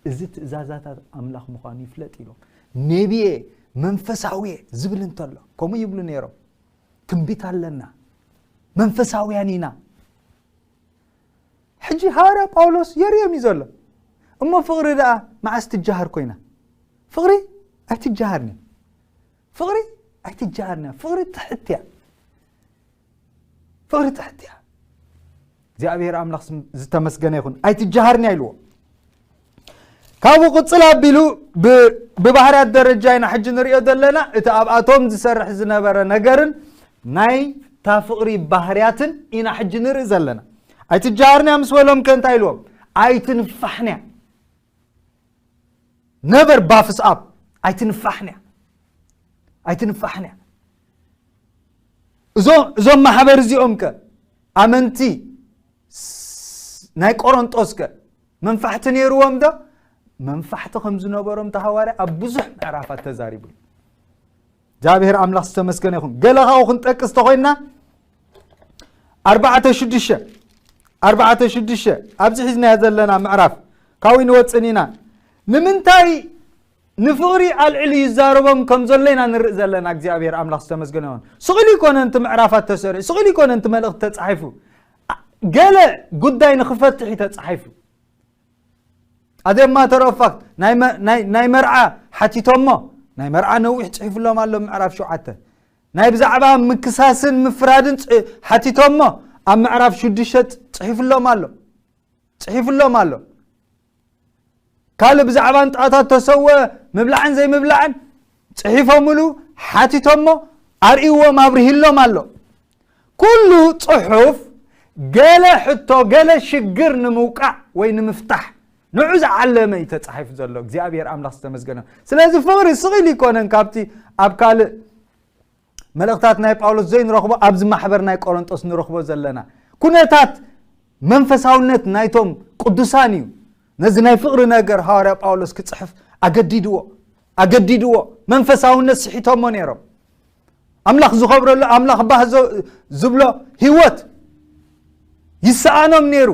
እዚ ትእዛዛታት ኣምላኽ ምዃኑ ይፍለጥ ኢሎም ነቢየ መንፈሳዊ እየ ዝብል እንተሎ ከምኡ ይብሉ ነይሮም ትንቢት ኣለና መንፈሳውያን ኢና ሕጂ ሃዋርያ ጳውሎስ የርእዮም እዩ ዘሎ እሞ ፍቕሪ ደኣ መዓስ ትጀሃር ኮይና ፍቕሪ ኣይትጀሃርን እያ ፍቕሪ ኣይትጀሃርን እያ ፍቕሪ ትሕት እያ ፍቕሪ ትሕት እያ እግዚኣብሔር ኣምላኽ ስም ዝተመስገነ ይኹን ኣይትጀሃርኒ ኣይልዎ ካብኡ ቅፅል ኣቢሉ ብባህርያት ደረጃ ኢና ሕጂ ንሪኦ ዘለና እቲ ኣብኣቶም ዝሰርሕ ዝነበረ ነገርን ናይ እታ ፍቕሪ ባህርያትን ኢና ሕጂ ንርኢ ዘለና ኣይትጀሃርንያ ምስ በሎም ከ እንታይ ኢልዎም ኣይትንፋሕንያ ነበር ባፍስኣብ ኣይትንፋሕንያ ኣይትንፋሕንያ እዞም ማሕበር እዚኦም ከ ኣመንቲ ናይ ቆሮንጦስ ከ መንፋሕቲ ነይርዎም ዶ መንፋሕቲ ከም ዝነበሮም እቲ ሃዋርያ ኣብ ብዙሕ ምዕራፋት ተዛሪቡ እዩ እግዚኣብሔር ኣምላኽ ዝተመስገነ ይኹን ገለ ካብኡ ክንጠቅስ ተኮይንና ኣርባዕተ ሽዱሽተ ኣርባዕተ ሽዱሽተ ኣብዚ ሒዝናዮ ዘለና ምዕራፍ ካብኡ ንወፅን ኢና ንምንታይ ንፍቕሪ ኣልዕሉ ይዛረቦም ከም ዘሎ ኢና ንርኢ ዘለና እግዚኣብሔር ኣምላኽ ዝተመስገነ ይኹን ስቕ ኢሉ ይኮነ ንቲ ምዕራፋት ተሰሪዑ ስቕ ኢሉ ይኮነ ንቲ መልእኽቲ ተጻሒፉ ገለ ጉዳይ ንክፈትሕ እዩ ተጻሒፉ ኣደማ ተረፋክት ናይ መርዓ ሓቲቶሞ ናይ መርዓ ነዊሕ ፅሒፍሎም ኣሎ ምዕራፍ ሸውዓተ ናይ ብዛዕባ ምክሳስን ምፍራድን ሓቲቶሞ ኣብ ምዕራፍ ሽዱሽተ ፅሒፍሎም ኣሎ ፅሒፍሎም ኣሎ ካልእ ብዛዕባ ንጥቐታት ተሰወ ምብላዕን ዘይምብላዕን ጽሒፎምሉ ሓቲቶሞ ኣርእዎም ኣብርሂሎም ኣሎ ኩሉ ጽሑፍ ገለ ሕቶ ገለ ሽግር ንምውቃዕ ወይ ንምፍታሕ ንዑ ዝዓለመ እዩ ተፃሒፉ ዘሎ እግዚኣብሔር ኣምላኽ ዝተመስገነ ስለዚ ፍቕሪ ስቕኢል ይኮነን ካብቲ ኣብ ካልእ መልእኽታት ናይ ጳውሎስ ዘይንረኽቦ ኣብዚ ማሕበር ናይ ቆሮንጦስ ንረኽቦ ዘለና ኩነታት መንፈሳውነት ናይቶም ቅዱሳን እዩ ነዚ ናይ ፍቕሪ ነገር ሃዋርያ ጳውሎስ ክጽሕፍ ኣገዲድዎ ኣገዲድዎ መንፈሳውነት ስሒቶሞ ነይሮም ኣምላኽ ዝኸብረሉ ኣምላኽ ባህ ዝብሎ ህይወት ይሰኣኖም ነይሩ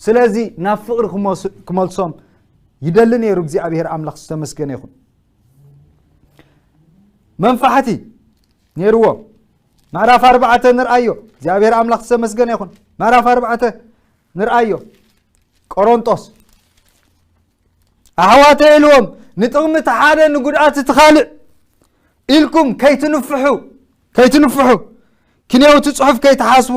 ስለዚ ናብ ፍቕሪ ክመልሶም ይደሊ ነይሩ እግዚኣብሄር ኣምላኽ ዝተመስገነ ይኹን መንፋሕቲ ነይርዎ ምዕራፍ ኣርባዕተ ንርኣዮ እግዚኣብሔር ኣምላኽ ዝተመስገነ ይኹን ምዕራፍ ኣርባዕተ ንርኣዮ ቆሮንጦስ ኣሕዋተ ኢልዎም ንጥቕሚ እቲ ሓደ ንጉድኣት እቲ ካልእ ኢልኩም ከይትንፍሑ ከይትንፍሑ ክንየውቲ ፅሑፍ ከይትሓስቡ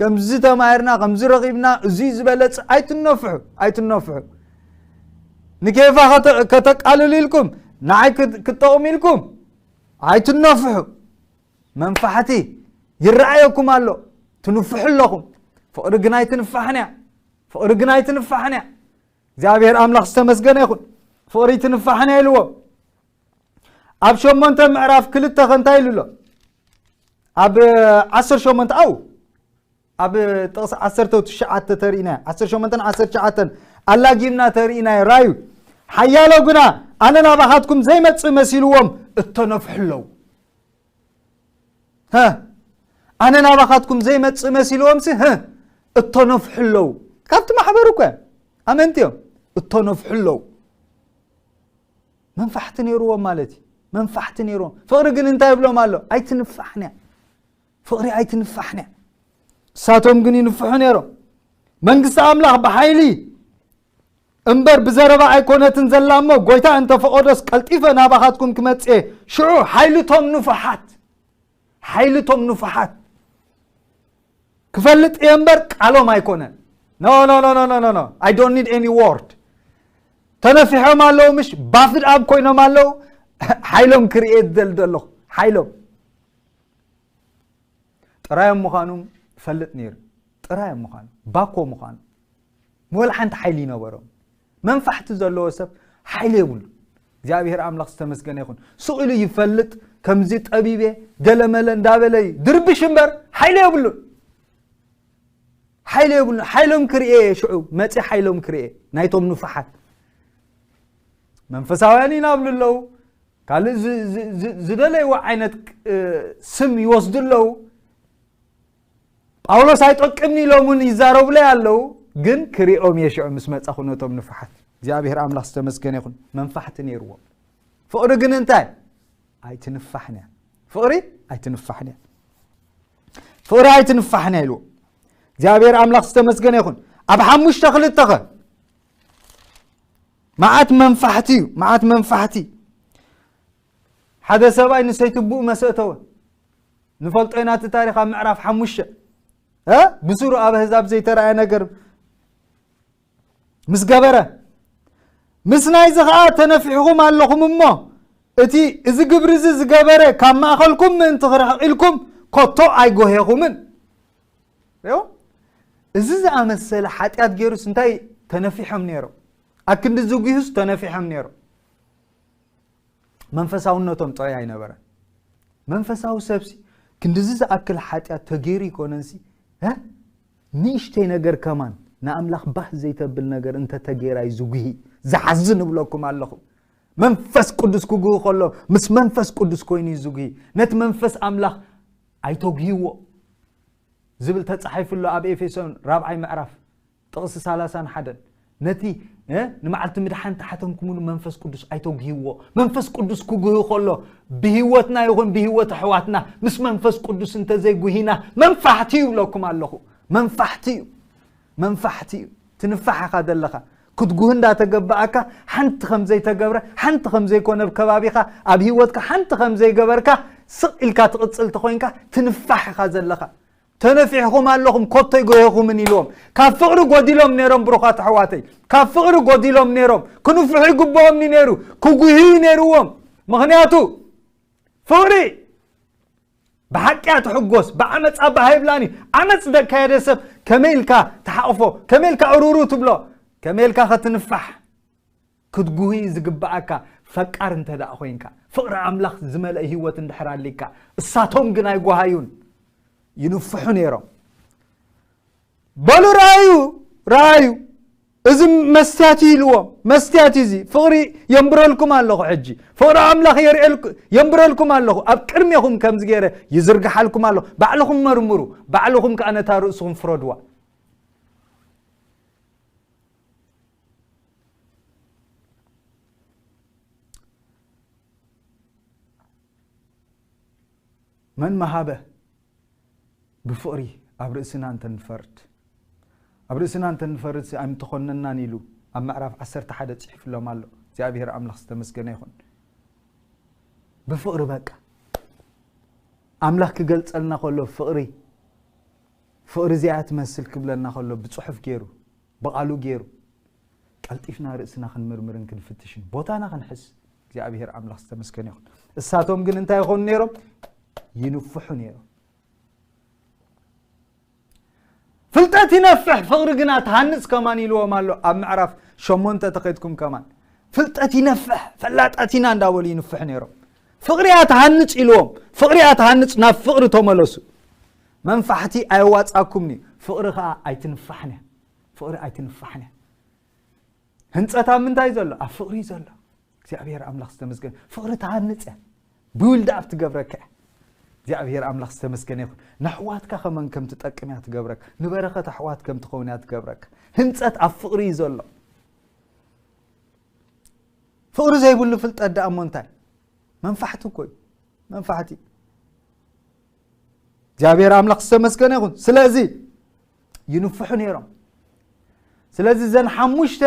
ከምዚ ተማሂርና ከምዚ ረኺብና እዙይ ዝበለፅ ኣይትነፍሑ ኣይትነፍሑ ንኬፋ ከተቃልሉ ኢልኩም ንዓይ ክጠቕሙ ኢልኩም ኣይትነፍሑ መንፋሕቲ ይረኣየኩም ኣሎ ትንፍሑ ኣለኹም ፍቕሪ ግን ኣይትንፋሕን እያ ፍቕሪ ግን ኣይትንፋሕን እያ እግዚኣብሔር ኣምላኽ ዝተመስገነ ይኹን ፍቕሪ ትንፋሕን እያ ኢልዎ ኣብ ሸሞንተ ምዕራፍ ክልተ ከንታይ ኢሉ ኣሎ ኣብ ዓሰር ሸሞንተ ኣው ኣብ ጥቕሲ ዓሰርተ ትሽዓተ ተርእናዮ ዓሰር ሸሞንተን ዓሰር ትሽዓተን ኣላጊምና ተርእናዮ ራዩ ሓያሎ ግና ኣነ ናባኻትኩም ዘይመፅእ መሲልዎም እተነፍሑ ኣለዉ ኣነ ናባኻትኩም ዘይመፅእ መሲልዎም ሲ እተነፍሑ ኣለዉ ካብቲ ማሕበሩ እኮ ኣመንቲ እዮም እተነፍሑ ኣለዉ መንፋሕቲ ነይርዎም ማለት እዩ መንፋሕቲ ነይርዎም ፍቕሪ ግን እንታይ ይብሎም ኣሎ ኣይትንፋሕንያ ፍቕሪ ኣይትንፋሕንያ ንሳቶም ግን ይንፍሑ ነይሮም መንግስቲ ኣምላኽ ብሓይሊ እምበር ብዘረባ ኣይኮነትን ዘላ እሞ ጎይታ እንተፈቐዶስ ቀልጢፈ ናባኻትኩም ክመፅኤ ሽዑ ሓይልቶም ንፉሓት ሓይሊ እቶም ንፉሓት ክፈልጥ እየ እምበር ቃሎም ኣይኮነን ኖ ኖ ኖ ኖ ኖ ኖ ኣይ ዶንት ኒድ ኤኒ ዎርድ ተነፊሖም ኣለዉ ምሽ ባፍድ ኣብ ኮይኖም ኣለዉ ሓይሎም ክርኤት ዘል ዘለኹ ሓይሎም ጥራዮም ምዃኑ ፈልጥ ነይሩ ጥራዮም ምዃኑ ባኮ ምዃኑ ወላ ሓንቲ ሓይሊ ይነበሮም መንፋሕቲ ዘለዎ ሰብ ሓይሊ የብሉ እግዚኣብሔር ኣምላኽ ዝተመስገነ ይኹን ስኢሉ ይፈልጥ ከምዚ ጠቢቤ ገለመለ እንዳበለ እዩ ድርብሽ እምበር ሓይሊ የብሉን ሓይሊ የብሉን ሓይሎም ክርኤ እየ ሽዑ መፂ ሓይሎም ክርኤ ናይቶም ንፉሓት መንፈሳውያን ኢና ብሉ ኣለዉ ካልእ ዝደለይዎ ዓይነት ስም ይወስዱ ኣለዉ ጳውሎስ ኣይጠቅምኒ ኢሎም እውን ይዛረቡለይ ኣለዉ ግን ክሪኦም እየ ሽዑ ምስ መጻኹ ነቶም ንፉሓት እግዚኣብሔር ኣምላኽ ዝተመስገነ ይኹን መንፋሕቲ ነይርዎም ፍቕሪ ግን እንታይ ኣይትንፋሕን እያ ፍቕሪ ኣይትንፋሕን እያ ፍቕሪ ኣይትንፋሕን እያ ኢልዎ እግዚኣብሔር ኣምላኽ ዝተመስገነ ይኹን ኣብ ሓሙሽተ ክልተ ኸ መዓት መንፋሕቲ እዩ መዓት መንፋሕቲ ሓደ ሰብኣይ ንሰይትቡኡ መሰእተወ ንፈልጦ ኢና እቲ ታሪክ ኣብ ምዕራፍ ሓሙሸ ብስሩ ኣብ ኣህዛብ ዘይተረኣየ ነገር ምስ ገበረ ምስ ናይዚ ከዓ ተነፊሕኹም ኣለኹም እሞ እቲ እዚ ግብሪ እዚ ዝገበረ ካብ ማእኸልኩም ምእንቲ ክርሕቕ ኢልኩም ኮቶ ኣይጎሄኹምን እዚ ዝኣመሰለ ሓጢኣት ገይሩስ እንታይ ተነፊሖም ነይሮም ኣክንዲ ዝጉዩስ ተነፊሖም ነይሮም መንፈሳውነቶም ጥራይ ኣይነበረን መንፈሳዊ ሰብሲ ክንዲዚ ዝኣክል ሓጢኣት ተገይሩ ይኮነንሲ ንእሽተይ ነገር ከማን ንኣምላኽ ባህ ዘይተብል ነገር እንተተገይራይ ዝጉሂ ዝሓዝን እብለኩም ኣለኹ መንፈስ ቅዱስ ክጉሂ ከሎ ምስ መንፈስ ቅዱስ ኮይኑ ዩ ዝጉሂ ነቲ መንፈስ ኣምላኽ ኣይተጉሂዎ ዝብል ተፃሒፉ ኣሎ ኣብ ኤፌሶን ራብዓይ ምዕራፍ ጥቕሲ ሳላሳን ሓደን ነቲ ንመዓልቲ ምድሓን ተሓተምኩምሉ መንፈስ ቅዱስ ኣይተጉህዎ መንፈስ ቅዱስ ክጉህ ከሎ ብህወትና ይኹን ብህወት ኣሕዋትና ምስ መንፈስ ቅዱስ እንተዘይጉሂና መንፋሕቲ እዩ ብለኩም ኣለኹ መንፋሕቲ እዩ መንፋሕቲ እዩ ትንፋሕ ኢኻ ዘለኻ ክትጉህ እንዳተገባኣካ ሓንቲ ከም ዘይተገብረ ሓንቲ ከም ዘይኮነ ብ ከባቢኻ ኣብ ሂወትካ ሓንቲ ከም ዘይገበርካ ስቕ ኢልካ ትቕፅል ተኮይንካ ትንፋሕ ኢኻ ዘለኻ ተነፊሕኹም ኣለኹም ኮቶ ይጎሄኹምን ኢልዎም ካብ ፍቕሪ ጎዲሎም ነይሮም ብሩኻት ኣሕዋተይ ካብ ፍቕሪ ጎዲሎም ነይሮም ክንፍሑ ይግብኦም ዩ ነይሩ ክጉህዩ ነይርዎም ምክንያቱ ፍቕሪ ብሓቂ እያ ትሕጎስ ብዓመፅ ኣባ ሃይብላን እዩ ዓመፅ ዘካየደ ሰብ ከመይ ኢልካ ትሓቕፎ ከመይ ኢልካ እሩሩ ትብሎ ከመይ ኢልካ ከትንፋሕ ክትጉህይ ዝግበኣካ ፈቃር እንተድኣ ኮይንካ፣ ፍቕሪ ኣምላኽ ዝመልእ ህይወት እንድሕር ኣልካ፣ እሳቶም ግን ኣይጓሃዩን፣ ይንፍሑ ነይሮም። በሉ ረኣዩ ረኣዩ እዚ መስትያት እዩ ኢልዎም፣ መስትያት እዩ እዚ ፍቕሪ የንብረልኩም ኣለኹ፣ ሕጂ ፍቕሪ ኣምላኽ የንብረልኩም ኣለኹ፣ ኣብ ቅድሜኹም ከምዚ ገይረ ይዝርግሓልኩም ኣለኹ፣ ባዕልኹም መርምሩ፣ ባዕልኹም ከዓ ነታ ርእስኹም ፍረድዋ። መን መሃበ ብፍቕሪ ኣብ ርእስና እንተንፈርድ ኣብ ርእስና እንተንፈርድ ኣይምተኾነናን ኢሉ ኣብ ምዕራፍ ዓሰርተ ሓደ ጽሒፍሎም ኣሎ እግዚኣብሔር ኣምላኽ ዝተመስገነ ይኹን ብፍቕሪ በቃ ኣምላኽ ክገልጸልና ከሎ ፍቕሪ ፍቕሪ እዚኣ ትመስል ክብለና ከሎ ብጽሑፍ ገይሩ ብቓሉ ገይሩ ቀልጢፍና ርእስና ክንምርምርን ክንፍትሽን ቦታና ክንሕዝ እግዚኣብሔር ኣምላኽ ዝተመስገነ ይኹን እሳቶም ግን እንታይ ይኾኑ ነይሮም ይንፍሑ ነይሮም ፍልጠት ይነፍሕ ፍቕሪ ግና ትሃንፅ ከማን ኢልዎም ኣሎ ኣብ ምዕራፍ ሸሞንተ ተኸድኩም ከማን ፍልጠት ይነፍሕ ፈላጣት ኢና እንዳበሉ ይንፍሑ ነይሮም ፍቕሪ እያ ትሃንፅ ኢልዎም ፍቕሪ እያ ትሃንፅ ናብ ፍቕሪ ተመለሱ መንፋሕቲ ኣየዋጻኩምን'ዩ ፍቕሪ ከኣ ኣይትንፋሕን'ያ ፍቕሪ ኣይትንፋሕን'ያ ህንጸት ኣብ ምንታይ ዘሎ ኣብ ፍቕሪ'ዩ ዘሎ እግዚኣብሔር ኣምላኽ ዝተመስገነ ፍቕሪ ትሃንጽ'ያ ቢውልድኣብ ትገብረካ'ያ እግዚኣብሔር ኣምላኽ ዝተመስገነ ይኹን ንኣሕዋትካ ከመን ከም ትጠቅም እያ ትገብረካ ንበረኸት ኣሕዋት ከም ትኸውን እያ ትገብረካ ህንፀት ኣብ ፍቕሪ እዩ ዘሎ ፍቕሪ ዘይብሉ ፍልጠት ደኣ እሞ እንታይ መንፋሕቲ እኮ እዩ መንፋሕቲ እግዚኣብሔር ኣምላኽ ዝተመስገነ ይኹን ስለዚ ይንፍሑ ነይሮም ስለዚ ዘን ሓሙሽተ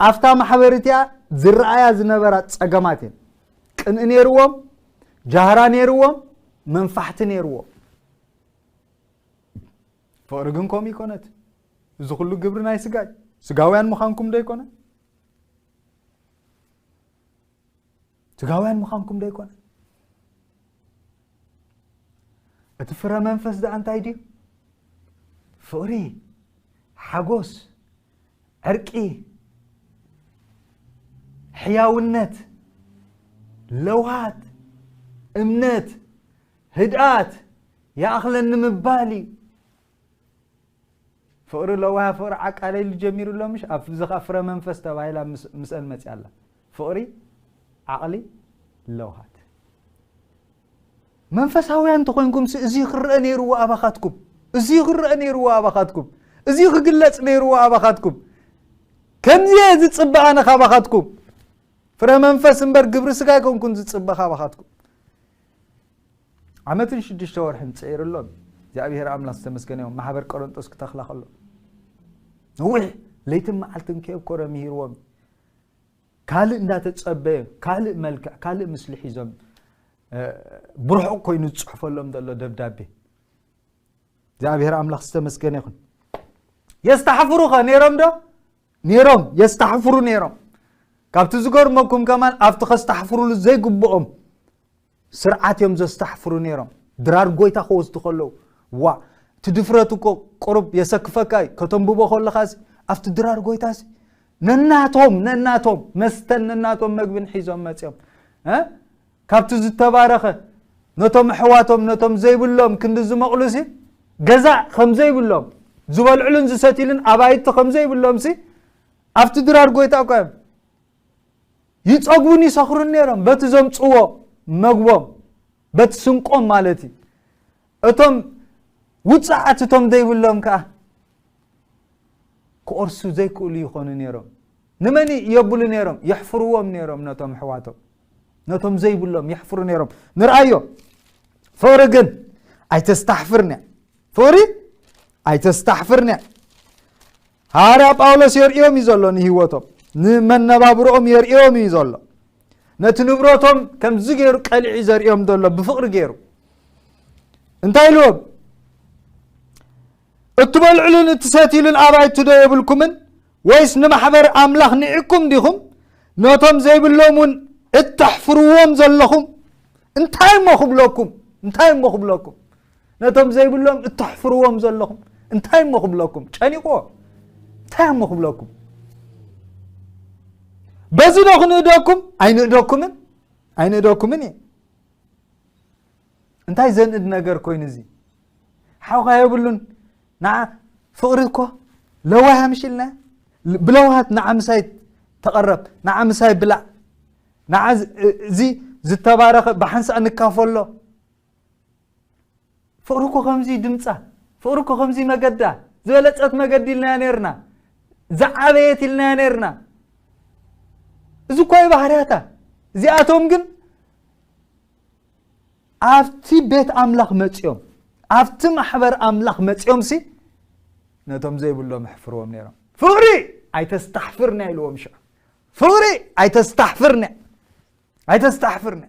ኣብታ ማሕበር እቲኣ ዝረኣያ ዝነበራ ፀገማት እየን ቅንኢ ነይርዎም ጃህራ ነይርዎም መንፋሕቲ ነይርዎም ፍቕሪ ግን ከምኡ ይኮነት እዚ ኩሉ ግብሪ ናይ ስጋ እዩ ስጋውያን ምዃንኩም ዶ ይኮነ ስጋውያን ምዃንኩም ዶ ኣይኮነ እቲ ፍረ መንፈስ ደኣ እንታይ ድዩ ፍቕሪ ሓጎስ ዕርቂ ሕያውነት ለውሃት እምነት ህድኣት ይኣኽለኒ ምባል እዩ ፍቅሪ ለዋህ ፍቅሪ ዓቃለ ኢሉ ጀሚሩ ኣሎ ምሽ ኣብዚ ከኣ ፍረ መንፈስ ተባሂላ ምስእን መጽያ ኣላ ፍቅሪ ዓቅሊ ለውሃት መንፈሳውያን እንተኾይንኩም እዚ ክረአ ነይርዎ ኣባኻትኩም እዚ ክረአ ነይርዎ ኣባኻትኩም እዚ ክግለጽ ነይርዎ ኣባኻትኩም ከምዚ እየ ዝፅበ ኣነ ካባኻትኩም ፍረ መንፈስ እምበር ግብሪ ስጋ ኣይኮንኩን ዝፅበ ካባኻትኩም ዓመትን ሽዱሽተ ወርሕን ጸይርሎን እግዚኣብሔር ኣምላክ ዝተመስገነ ይኹን ማሕበር ቆረንጦስ ክተኽላ ከሎ ነዊሕ ለይትን መዓልትን ከየብኮረ ምሂርዎም ካልእ እንዳተጸበየ ካልእ መልክዕ ካልእ ምስሊ ሒዞም ብርሑቕ ኮይኑ ዝፅሕፈሎም ዘሎ ደብዳቤ እግዚኣብሔር ኣምላኽ ዝተመስገነ ይኹን የስተሕፍሩ ኸ ነይሮም ዶ ነይሮም የስተሕፍሩ ነይሮም ካብቲ ዝገርመኩም ከማን ኣብቲ ከስተሕፍሩሉ ዘይግብኦም ስርዓት እዮም ዘስታሕፍሩ ነይሮም ድራር ጎይታ ክወስዱ ከለዉ ዋእ እቲ ድፍረት እኮ ቁሩብ የሰክፈካ እዩ ከተንብቦ ከለኻሲ ኣብቲ ድራር ጎይታሲ ነናቶም ነናቶም መስተን ነናቶም መግብን ሒዞም መፅኦም ካብቲ ዝተባረኸ ነቶም ኣሕዋቶም ነቶም ዘይብሎም ክንዲ ዝመቕሉሲ ገዛ ከም ዘይብሎም ዝበልዕሉን ዝሰትሉን ኣባይቲ ከም ዘይብሎምሲ ኣብቲ ድራር ጎይታ እኳ እዮም ይጸግቡን ይሰኽሩን ነይሮም በቲ ዘምጽዎ መግቦም በቲ ስንቆም ማለት እዩ እቶም ውፅዓት እቶም ዘይብሎም ከዓ ክኦርሱ ዘይክእሉ ይኾኑ ነይሮም ንመን የብሉ ነይሮም የሕፍርዎም ነይሮም ነቶም ኣሕዋቶም ነቶም ዘይብሎም የሕፍሩ ነይሮም ንርኣዮ ፍቕሪ ግን ኣይተስታሕፍርንያ ፍቕሪ ኣይተስታሕፍርንያ ሃዋርያ ጳውሎስ የርእዮም እዩ ዘሎ ንህይወቶም ንመነባብሮኦም የርእዮም እዩ ዘሎ ነቲ ንብረቶም ከምዚ ገይሩ ቀሊዒ ዘርእዮም ዘሎ ብፍቕሪ ገይሩ እንታይ ኢልዎም እትበልዕሉን እትሰትሉን ኣባይቱ ዶ የብልኩምን ወይስ ንማሕበር ኣምላኽ ንዕኩም ዲኹም ነቶም ዘይብሎም እውን እተሕፍርዎም ዘለኹም እንታይ እሞ ክብለኩም እንታይ እሞ ክብለኩም ነቶም ዘይብሎም እተሕፍርዎም ዘለኹም እንታይ እሞ ክብለኩም ጨኒቕዎ እንታይ እሞ ክብለኩም በዚ ዶ ክንእደኩም ኣይንእደኩምን ኣይንእደኩምን እየ እንታይ ዘንእድ ነገር ኮይኑ እዚ ሓውካ የብሉን ንዓ ፍቕሪ እኮ ለዋህ ምሽልና ብለዋሃት ንዓ ምሳይ ተቐረብ ንዓ ምሳይ ብላዕ ንዓ እዚ ዝተባረኸ ብሓንሳእ ንካፈሎ ፍቕሪ እኮ ከምዚ ድምፃ ፍቕሪ እኮ ከምዚ መገዳ ዝበለፀት መገዲ ኢልናያ ነርና ዝዓበየት ኢልናያ ነርና እዚ እኳ እዩ ባህርያታ እዚኣቶም ግን ኣብቲ ቤት ኣምላኽ መፅኦም ኣብቲ ማሕበር ኣምላኽ መፅኦም ሲ ነቶም ዘይብሎም ኣሕፍርዎም ነይሮም ፍቕሪ ኣይተስታሕፍርና ኢልዎም ሽዑ ፍቕሪ ኣይተስታሕፍርና ኣይተስታሕፍርና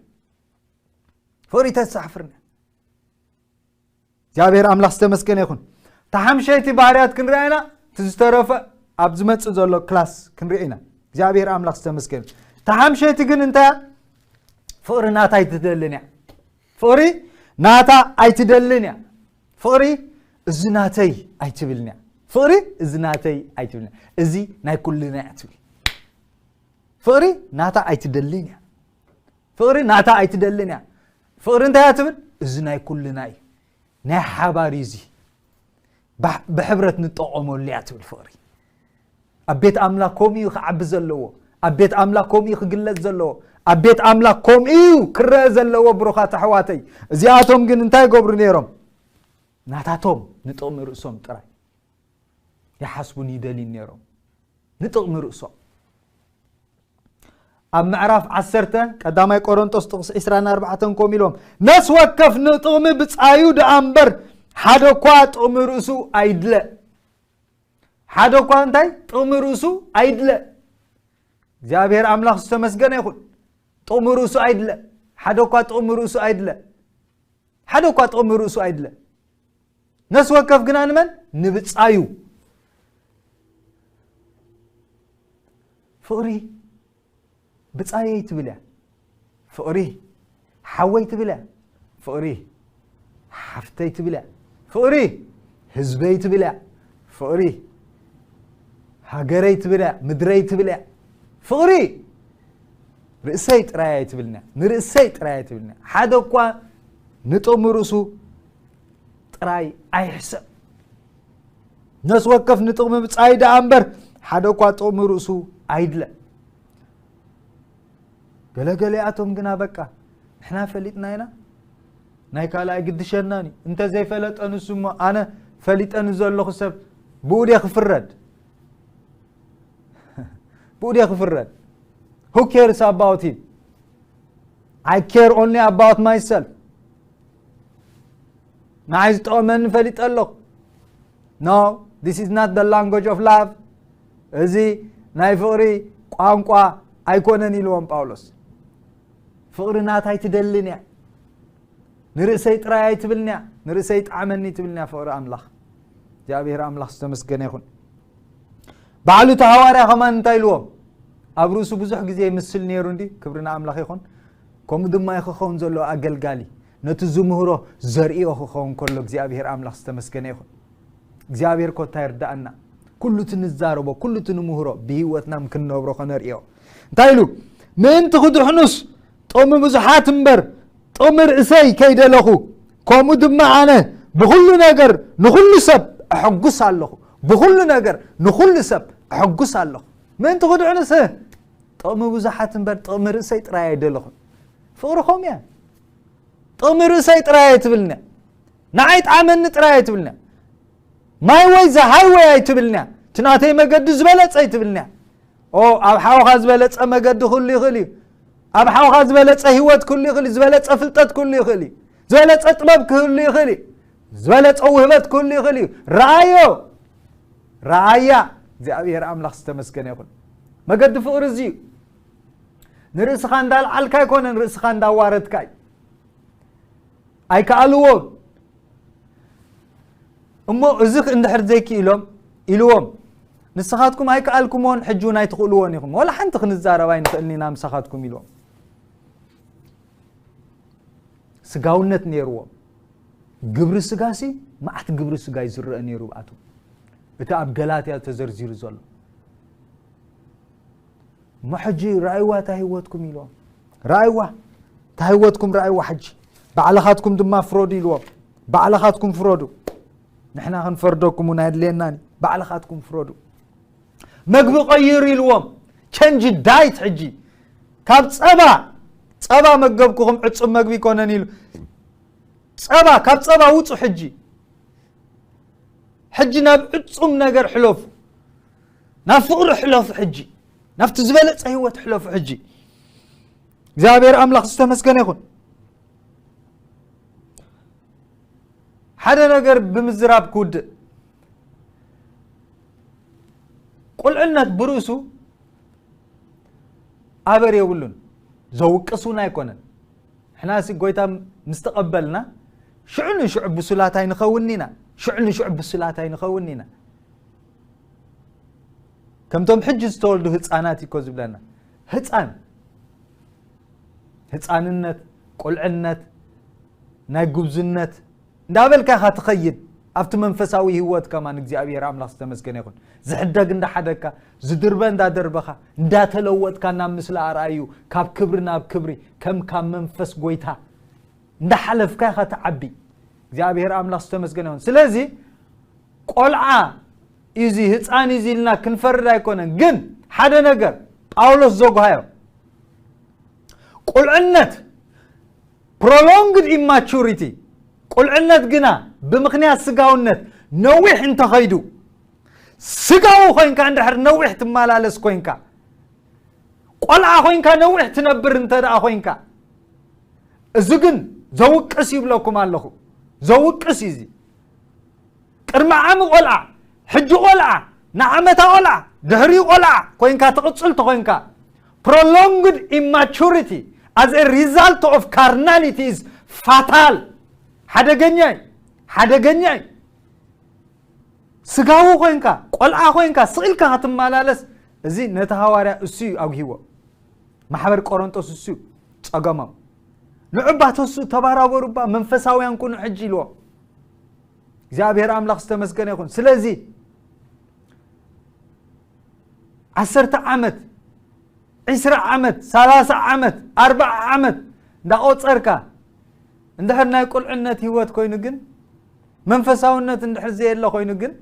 ፍቕሪ ተሳሕፍርኒ እግዚኣብሔር ኣምላኽ ዝተመስገነ ይኹን እታ ሓምሸይቲ ባህርያት ክንሪኣ ኢና እቲ ዝተረፈ ኣብ ዝመፅእ ዘሎ ክላስ ክንሪኦ ኢና እግዚኣብሔር ኣምላኽ ዝተመስገነ እታ ሓምሸይቲ ግን እንታይ ፍቕሪ ናታ ኣይትደልን እያ ፍቕሪ ናታ ኣይትደልን እያ ፍቕሪ እዚ ናተይ ኣይትብልን እያ ፍቕሪ እዚ ናተይ ኣይትብልን እዚ ናይ ኩልና እያ ትብል ፍቕሪ ናታ ኣይትደልን እያ ፍቕሪ ናታ ኣይትደልን እያ ፍቕሪ እንታይ እያ ትብል እዚ ናይ ኩልና እዩ ናይ ሓባር እዩ እዚ ብሕብረት ንጠቐመሉ እያ ትብል ፍቕሪ ኣብ ቤት ኣምላኽ ከምኡ እዩ ክዓቢ ዘለዎ ኣብ ቤት ኣምላኽ ከምኡ እዩ ክግለጽ ዘለዎ ኣብ ቤት ኣምላኽ ከምኡ እዩ ክረአ ዘለዎ ብሩኻት ኣሕዋተይ እዚኣቶም ግን እንታይ ገብሩ ነይሮም ናታቶም ንጥቕሚ ርእሶም ጥራይ ይሓስቡን ይደልዩን ነይሮም ንጥቕሚ ርእሶም ኣብ ምዕራፍ ዓሰርተ ቀዳማይ ቆሮንጦስ ጥቕሲ 24 ከምኡ ኢሎም ነስ ወከፍ ንጥቕሚ ብፃዩ ደኣ እምበር ሓደ እኳ ጥቕሚ ርእሱ ኣይድለ ሓደ እኳ እንታይ ጥቕሚ ርእሱ ኣይድለ እግዚኣብሔር ኣምላኽ ዝተመስገነ ይኹን ጥቕሚ ርእሱ ኣይድለ ሓደ እኳ ጥቕሚ ርእሱ ኣይድለ ሓደ እኳ ጥቕሚ ርእሱ ኣይድለ ነፍሲ ወከፍ ግና ንመን ንብጻዩ ፍቕሪ ብጻየይ ትብል እያ ፍቕሪ ሓወይ ትብል እያ ፍቕሪ ሓፍተይ ትብል እያ ፍቕሪ ህዝበይ ትብል እያ ፍቕሪ ሃገረይ ትብል እያ ምድረይ ትብል እያ ፍቕሪ ርእሰይ ጥራይ ኣይትብልና ንርእሰይ ጥራይ ኣይትብልና ሓደ እኳ ንጥቕሚ ርእሱ ጥራይ ኣይሕሰብ ነስ ወከፍ ንጥቕሚ ብጻይ ደኣ እምበር ሓደ እኳ ጥቕሚ ርእሱ ኣይድለ ገለገለኣቶም ግና በቃ ንሕና ፈሊጥና ኢና ናይ ካልእ ኣይግድሸናን እዩ እንተ ዘይፈለጠ ንሱ እሞ ኣነ ፈሊጠ ንዘለኹ ሰብ ብኡ ደ ክፍረድ ብኡ ደ ክፍረድ ሁ ኬርስ ኣባውት ሂም ኣይ ኬር ኦንሊ ኣባውት ማይሰልፍ ንዓይ ዝጠቕመኒ ፈሊጠ ኣለኹ ኖ ዲስ ኢዝ ናት ደ ላንጎጅ ኦፍ ላቭ እዚ ናይ ፍቕሪ ቋንቋ ኣይኮነን ኢልዎም ጳውሎስ ፍቕሪ ናት ኣይትደልን እያ ንርእሰይ ጥራይ ኣይትብልን እያ ንርእሰይ ጣዕመኒ ትብልን እያ ፍቕሪ ኣምላኽ እግዚኣብሔር ኣምላኽ ዝተመስገነ ይኹን ባዕሉ ተሃዋርያ ከማን እንታይ ኢልዎም ኣብ ርእሱ ብዙሕ ግዜ ይምስል ነይሩ እንዲ ክብሪ ንኣምላኽ ይኹን ከምኡ ድማ እዩ ክኸውን ዘለዎ ኣገልጋሊ ነቲ ዝምህሮ ዘርእዮ ክኸውን ከሎ እግዚኣብሄር ኣምላኽ ዝተመስገነ ይኹን እግዚኣብሄር ኮታ ይርዳእና ኩሉ እቲ ንዛረቦ ኩሉ እቲ ንምህሮ ብሂወትና ክንነብሮ ከነርእዮ እንታይ ኢሉ ምእንቲ ክድሕኑስ ጦሚ ብዙሓት እምበር ጦሚ ርእሰይ ከይደለኹ ከምኡ ድማ ኣነ ብኹሉ ነገር ንኹሉ ሰብ ኣሐጉስ ኣለኹ ብኹሉ ነገር ንኹሉ ሰብ ኣሐጉስ ኣለኹ ምእንቲ ክድሕኑስ ጥቕሚ ብዙሓት እምበር ጥቕሚ ርእሰይ ጥራይ ኣይደለኹን ፍቕሪ ከምኡ እያ ጥቕሚ ርእሰይ ጥራይ ኣይትብልና ንዓይ ጣዕመኒ ጥራይ ኣይትብልና ማይ ወይ ዝሃይ ወይ ኣይትብልና እቲ ናተይ መገዲ ዝበለፀ ኣይትብልና ኦ ኣብ ሓውኻ ዝበለፀ መገዲ ክሉ ይኽእል እዩ ኣብ ሓውኻ ዝበለፀ ሂወት ክሉ ይኽእል እዩ ዝበለፀ ፍልጠት ክሉ ይኽእል እዩ ዝበለፀ ጥበብ ክህሉ ይኽእል እዩ ዝበለጸ ውህበት ክህሉ ይኽእል እዩ ረኣዮ ረኣያ እግዚኣብሔር ኣምላኽ ዝተመስገነ ይኹን መገዲ ፍቕሪ እዚ እዩ ንርእስኻ እንዳልዓልካ ኣይኮነን ርእስኻ እንዳዋረድካ እዩ ኣይከኣልዎም እሞ እዚ እንድሕር ዘይክኢሎም ኢልዎም ንስኻትኩም ኣይከኣልኩምዎን ሕጂ እውን ኣይትኽእልዎን ኢኹም ወላ ሓንቲ ክንዛረብ ኣይንኽእልኒና ምሳኻትኩም ኢልዎም ስጋውነት ነይርዎም። ግብሪ ስጋሲ መዓት ግብሪ ስጋ እዩ ዝረአ ነይሩ ብኣቶም እቲ ኣብ ገላትያ ተዘርዚሩ ዘሎ እሞ ሕጂ ራእይዋ እታ ህይወትኩም ኢልዎም ራእይዋ እታ ህይወትኩም ራእይዋ ሕጂ ባዕልኻትኩም ድማ ፍረዱ ኢልዎም ባዕልኻትኩም ፍረዱ ንሕና ክንፈርደኩም እውን ኣየድልየናን ባዕልኻትኩም ፍረዱ መግቢ ቀይሩ ኢልዎም ቸንጂ ዳይት ሕጂ ካብ ፀባ ፀባ መገብኩኹም ዕፁብ መግቢ ይኮነን ኢሉ ፀባ ካብ ፀባ ውፁ ሕጂ ሕጂ ናብ ዕፁም ነገር ሕለፉ ናብ ፍቕሪ ሕለፉ ሕጂ ናብቲ ዝበለፀ ህይወት ሕለፉ ሕጂ እግዚኣብሔር ኣምላኽ ዝተመስገነ ይኹን ሓደ ነገር ብምዝራብ ክውድእ ቁልዕነት ብርእሱ ኣበር የብሉን ዘውቅስ እውን ኣይኮነን ሕና ሲ ጎይታ ምስ ተቐበልና ሽዑ ንሽዑ ብሱላት ኣይንኸውን ኢና ሽዑ ንሽዑ ብሱላት ኣይንኸውን ኢና ከምቶም ሕጂ ዝተወልዱ ህፃናት እኮ ዝብለና ህፃን ህፃንነት ቁልዕነት ናይ ጉብዝነት እንዳበልካ ኢኻ ትኸይድ ኣብቲ መንፈሳዊ ህይወት ከማን እግዚኣብሔር ኣምላኽ ዝተመስገነ ይኹን ዝሕደግ እንዳሓደግካ ዝድርበ እንዳደርበኻ እንዳተለወጥካ ናብ ምስሊ ኣርኣዩ ካብ ክብሪ ናብ ክብሪ ከም ካብ መንፈስ ጎይታ እንዳሓለፍካ ኢኻ ትዓቢ እግዚኣብሔር ኣምላኽ ዝተመስገነ ይኹን ስለዚ ቆልዓ እዚ ህፃን እዚ ኢልና ክንፈርድ ኣይኮነን ግን ሓደ ነገር ጳውሎስ ዘጓሃዮ ቁልዕነት Prolonged Immaturity፣ ቁልዕነት ግና ብምኽንያት ስጋውነት ነዊሕ እንተኸይዱ፣ ስጋዊ ኮይንካ እንድሕር ነዊሕ ትመላለስ ኮይንካ፣ ቆልዓ ኮይንካ ነዊሕ ትነብር እንተ ደኣ ኮይንካ፣ እዚ ግን ዘውቅስ ይብለኩም ኣለኹ፣ ዘውቅስ እዩ እዚ። ቅድሚ ዓሚ ቆልዓ፣ ሕጂ ቆልዓ፣ ንዓመታ ቆልዓ፣ ድሕሪኡ ቆልዓ ኮይንካ ትቕጽል ተኾይንካ፣ Prolonged Immaturity as a Result of Carnality is Fatal ሓደገኛ እዩ ሓደገኛ እዩ ስጋዊ ኮይንካ ቆልዓ ኮይንካ ስኢልካ ክትመላለስ እዚ ነቲ ሃዋርያ እሱ እዩ ኣጉሂዎ ማሕበር ቆረንጦስ እሱ እዩ ጸገሞም ንዑባ ተስኡ ተባራበሩባ መንፈሳውያን ኩኑ ሕጂ ኢልዎም እግዚኣብሔር ኣምላኽ ዝተመስገነ ይኹን ስለዚ ዓሰርተ ዓመት ዕስራ ዓመት ሰላሳ ዓመት ኣርባዓ ዓመት እንዳቆፀርካ እንድሕር ናይ ቁልዕነት ህይወት ኮይኑ ግን መንፈሳውነት እንድሕር ዘየለ ኮይኑ ግን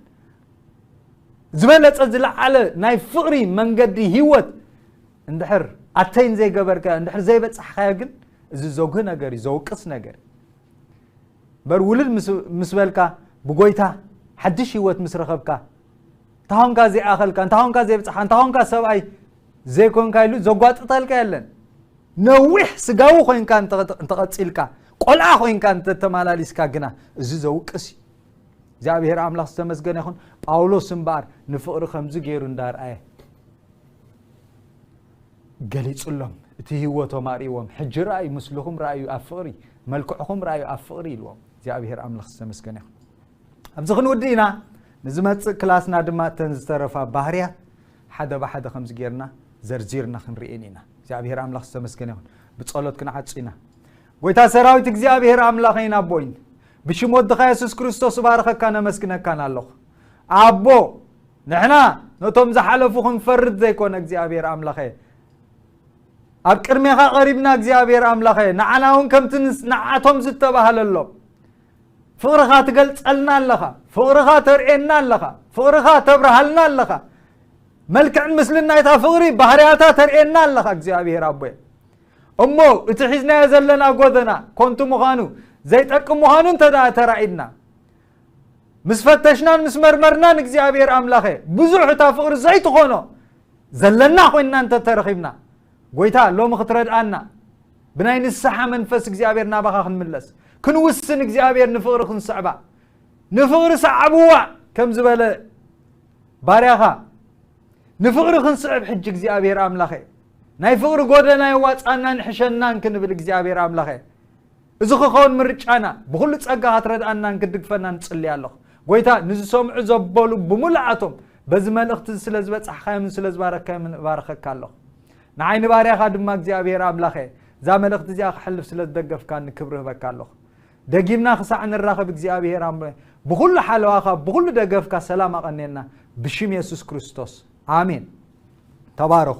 ዝበለፀ ዝለዓለ ናይ ፍቕሪ መንገዲ ህይወት እንድሕር ኣተይን ዘይገበርካዮ እንድሕር ዘይበፃሕካዮ ግን እዚ ዘጉህ ነገር እዩ ዘውቅስ ነገር እዩ እምበር ውልል ምስ ምስ በልካ ብጎይታ ሓድሽ ህይወት ምስ ረኸብካ እንታ ኾንካ ዘይኣኸልካ እንታ ኾንካ ዘይብጽሓ እንታ ኾንካ ሰብኣይ ዘይኮንካ ኢሉ ዘጓጥጠልካ የለን ነዊሕ ስጋዊ ኮንካ እንተቐፂልካ ቆልዓ ኮንካ እንተተመላሊስካ ግና እዚ ዘውቅስ እዩ እግዚኣብሔር ኣምላኽ ዝተመስገነ ይኹን ጳውሎስ እምበኣር ንፍቕሪ ከምዚ ገይሩ እንዳርኣየ ገሊጹሎም እቲ ህይወቶም ኣርእዎም ሕጂ ረኣዩ ምስልኹም ረኣዩ ኣብ ፍቕሪ መልክዕኹም ረኣዩ ኣብ ፍቕሪ ኢልዎም እግዚኣብሔር ኣምላኽ ዝተመስገነ ይኹን ኣብዚ ክንውድእ ኢና ንዝመፅእ ክላስና ድማ እተን ዝተረፋ ባህርያት ሓደ ብሓደ ከምዚ ጌርና ዘርዚርና ክንርኤን ኢና እግዚኣብሔር ኣምላኽ ዝተመስገነ ይኹን ብጸሎት ክንዓጹ ኢና ጎይታ ሰራዊት እግዚኣብሔር ኣምላኸይን ኣቦይን ብሽም ወድኻ የሱስ ክርስቶስ እባርኸካን ኣመስግነካን ኣለኹ ኣቦ ንሕና ነቶም ዝሓለፉ ክንፈርድ ዘይኮነ እግዚኣብሔር ኣምላኸ ኣብ ቅድሜኻ ቐሪብና እግዚኣብሔር ኣምላኸ ንዓና እውን ከምቲ ንዓቶም ዝተባህለሎም ፍቕርኻ ትገልጸልና ኣለኻ ፍቕርኻ ተርእየና ኣለኻ ፍቕርኻ ተብርሃልና ኣለኻ መልክዕን ምስልን ናይታ ፍቕሪ ባህርያታ ተርእየና ኣለኻ እግዚኣብሔር ኣቦየ እሞ እቲ ሒዝናዮ ዘለና ጎደና ኮንቱ ምዃኑ ዘይጠቅም ምዃኑ እንተ ተራኢድና ምስ ፈተሽናን ምስ መርመርናን እግዚኣብሔር ኣምላኸ ብዙሕ እታ ፍቕሪ ዘይትኾኖ ዘለና ኮይንና እንተ ተረኺብና ጎይታ ሎሚ ክትረድኣና ብናይ ንስሓ መንፈስ እግዚኣብሔር ናባኻ ክንምለስ ክንውስን እግዚኣብሔር ንፍቕሪ ክንስዕባ ንፍቕሪ ሰዓብዋ ከም ዝበለ ባርያኻ ንፍቕሪ ክንስዕብ ሕጂ እግዚኣብሔር ኣምላኸ ናይ ፍቕሪ ጎደና የዋፃናን ሕሸናን ክንብል እግዚኣብሔር ኣምላኸ እዚ ክከውን ምርጫና ብኩሉ ጸጋ ክትረድኣናን ክትድግፈናን እጽሊ ኣሎኩ ጎይታ ንዝሰምዑ ዘበሉ ብምሉኣቶም በዚ መልእክቲ እዚ ስለ ዝበጻሕካዮምን ስለ ዝባረካዮምን እባርኸካ ኣሎኩ ንዓይ ንባርያካ ድማ እግዚኣብሄር ኣምላኸ እዛ መልእክቲ እዚኣ ክሕልፍ ስለ ዝደገፍካኒ ክብሪ ህበካ ኣሎኩ ደጊምና ክሳዕ ንራኸብ እግዚኣብሄር ኣምረ ብኩሉ ሓለዋካ ብኩሉ ደገፍካ ሰላም ኣቐንየልና ብሽም የሱስ ክርስቶስ ኣሜን ተባረኹ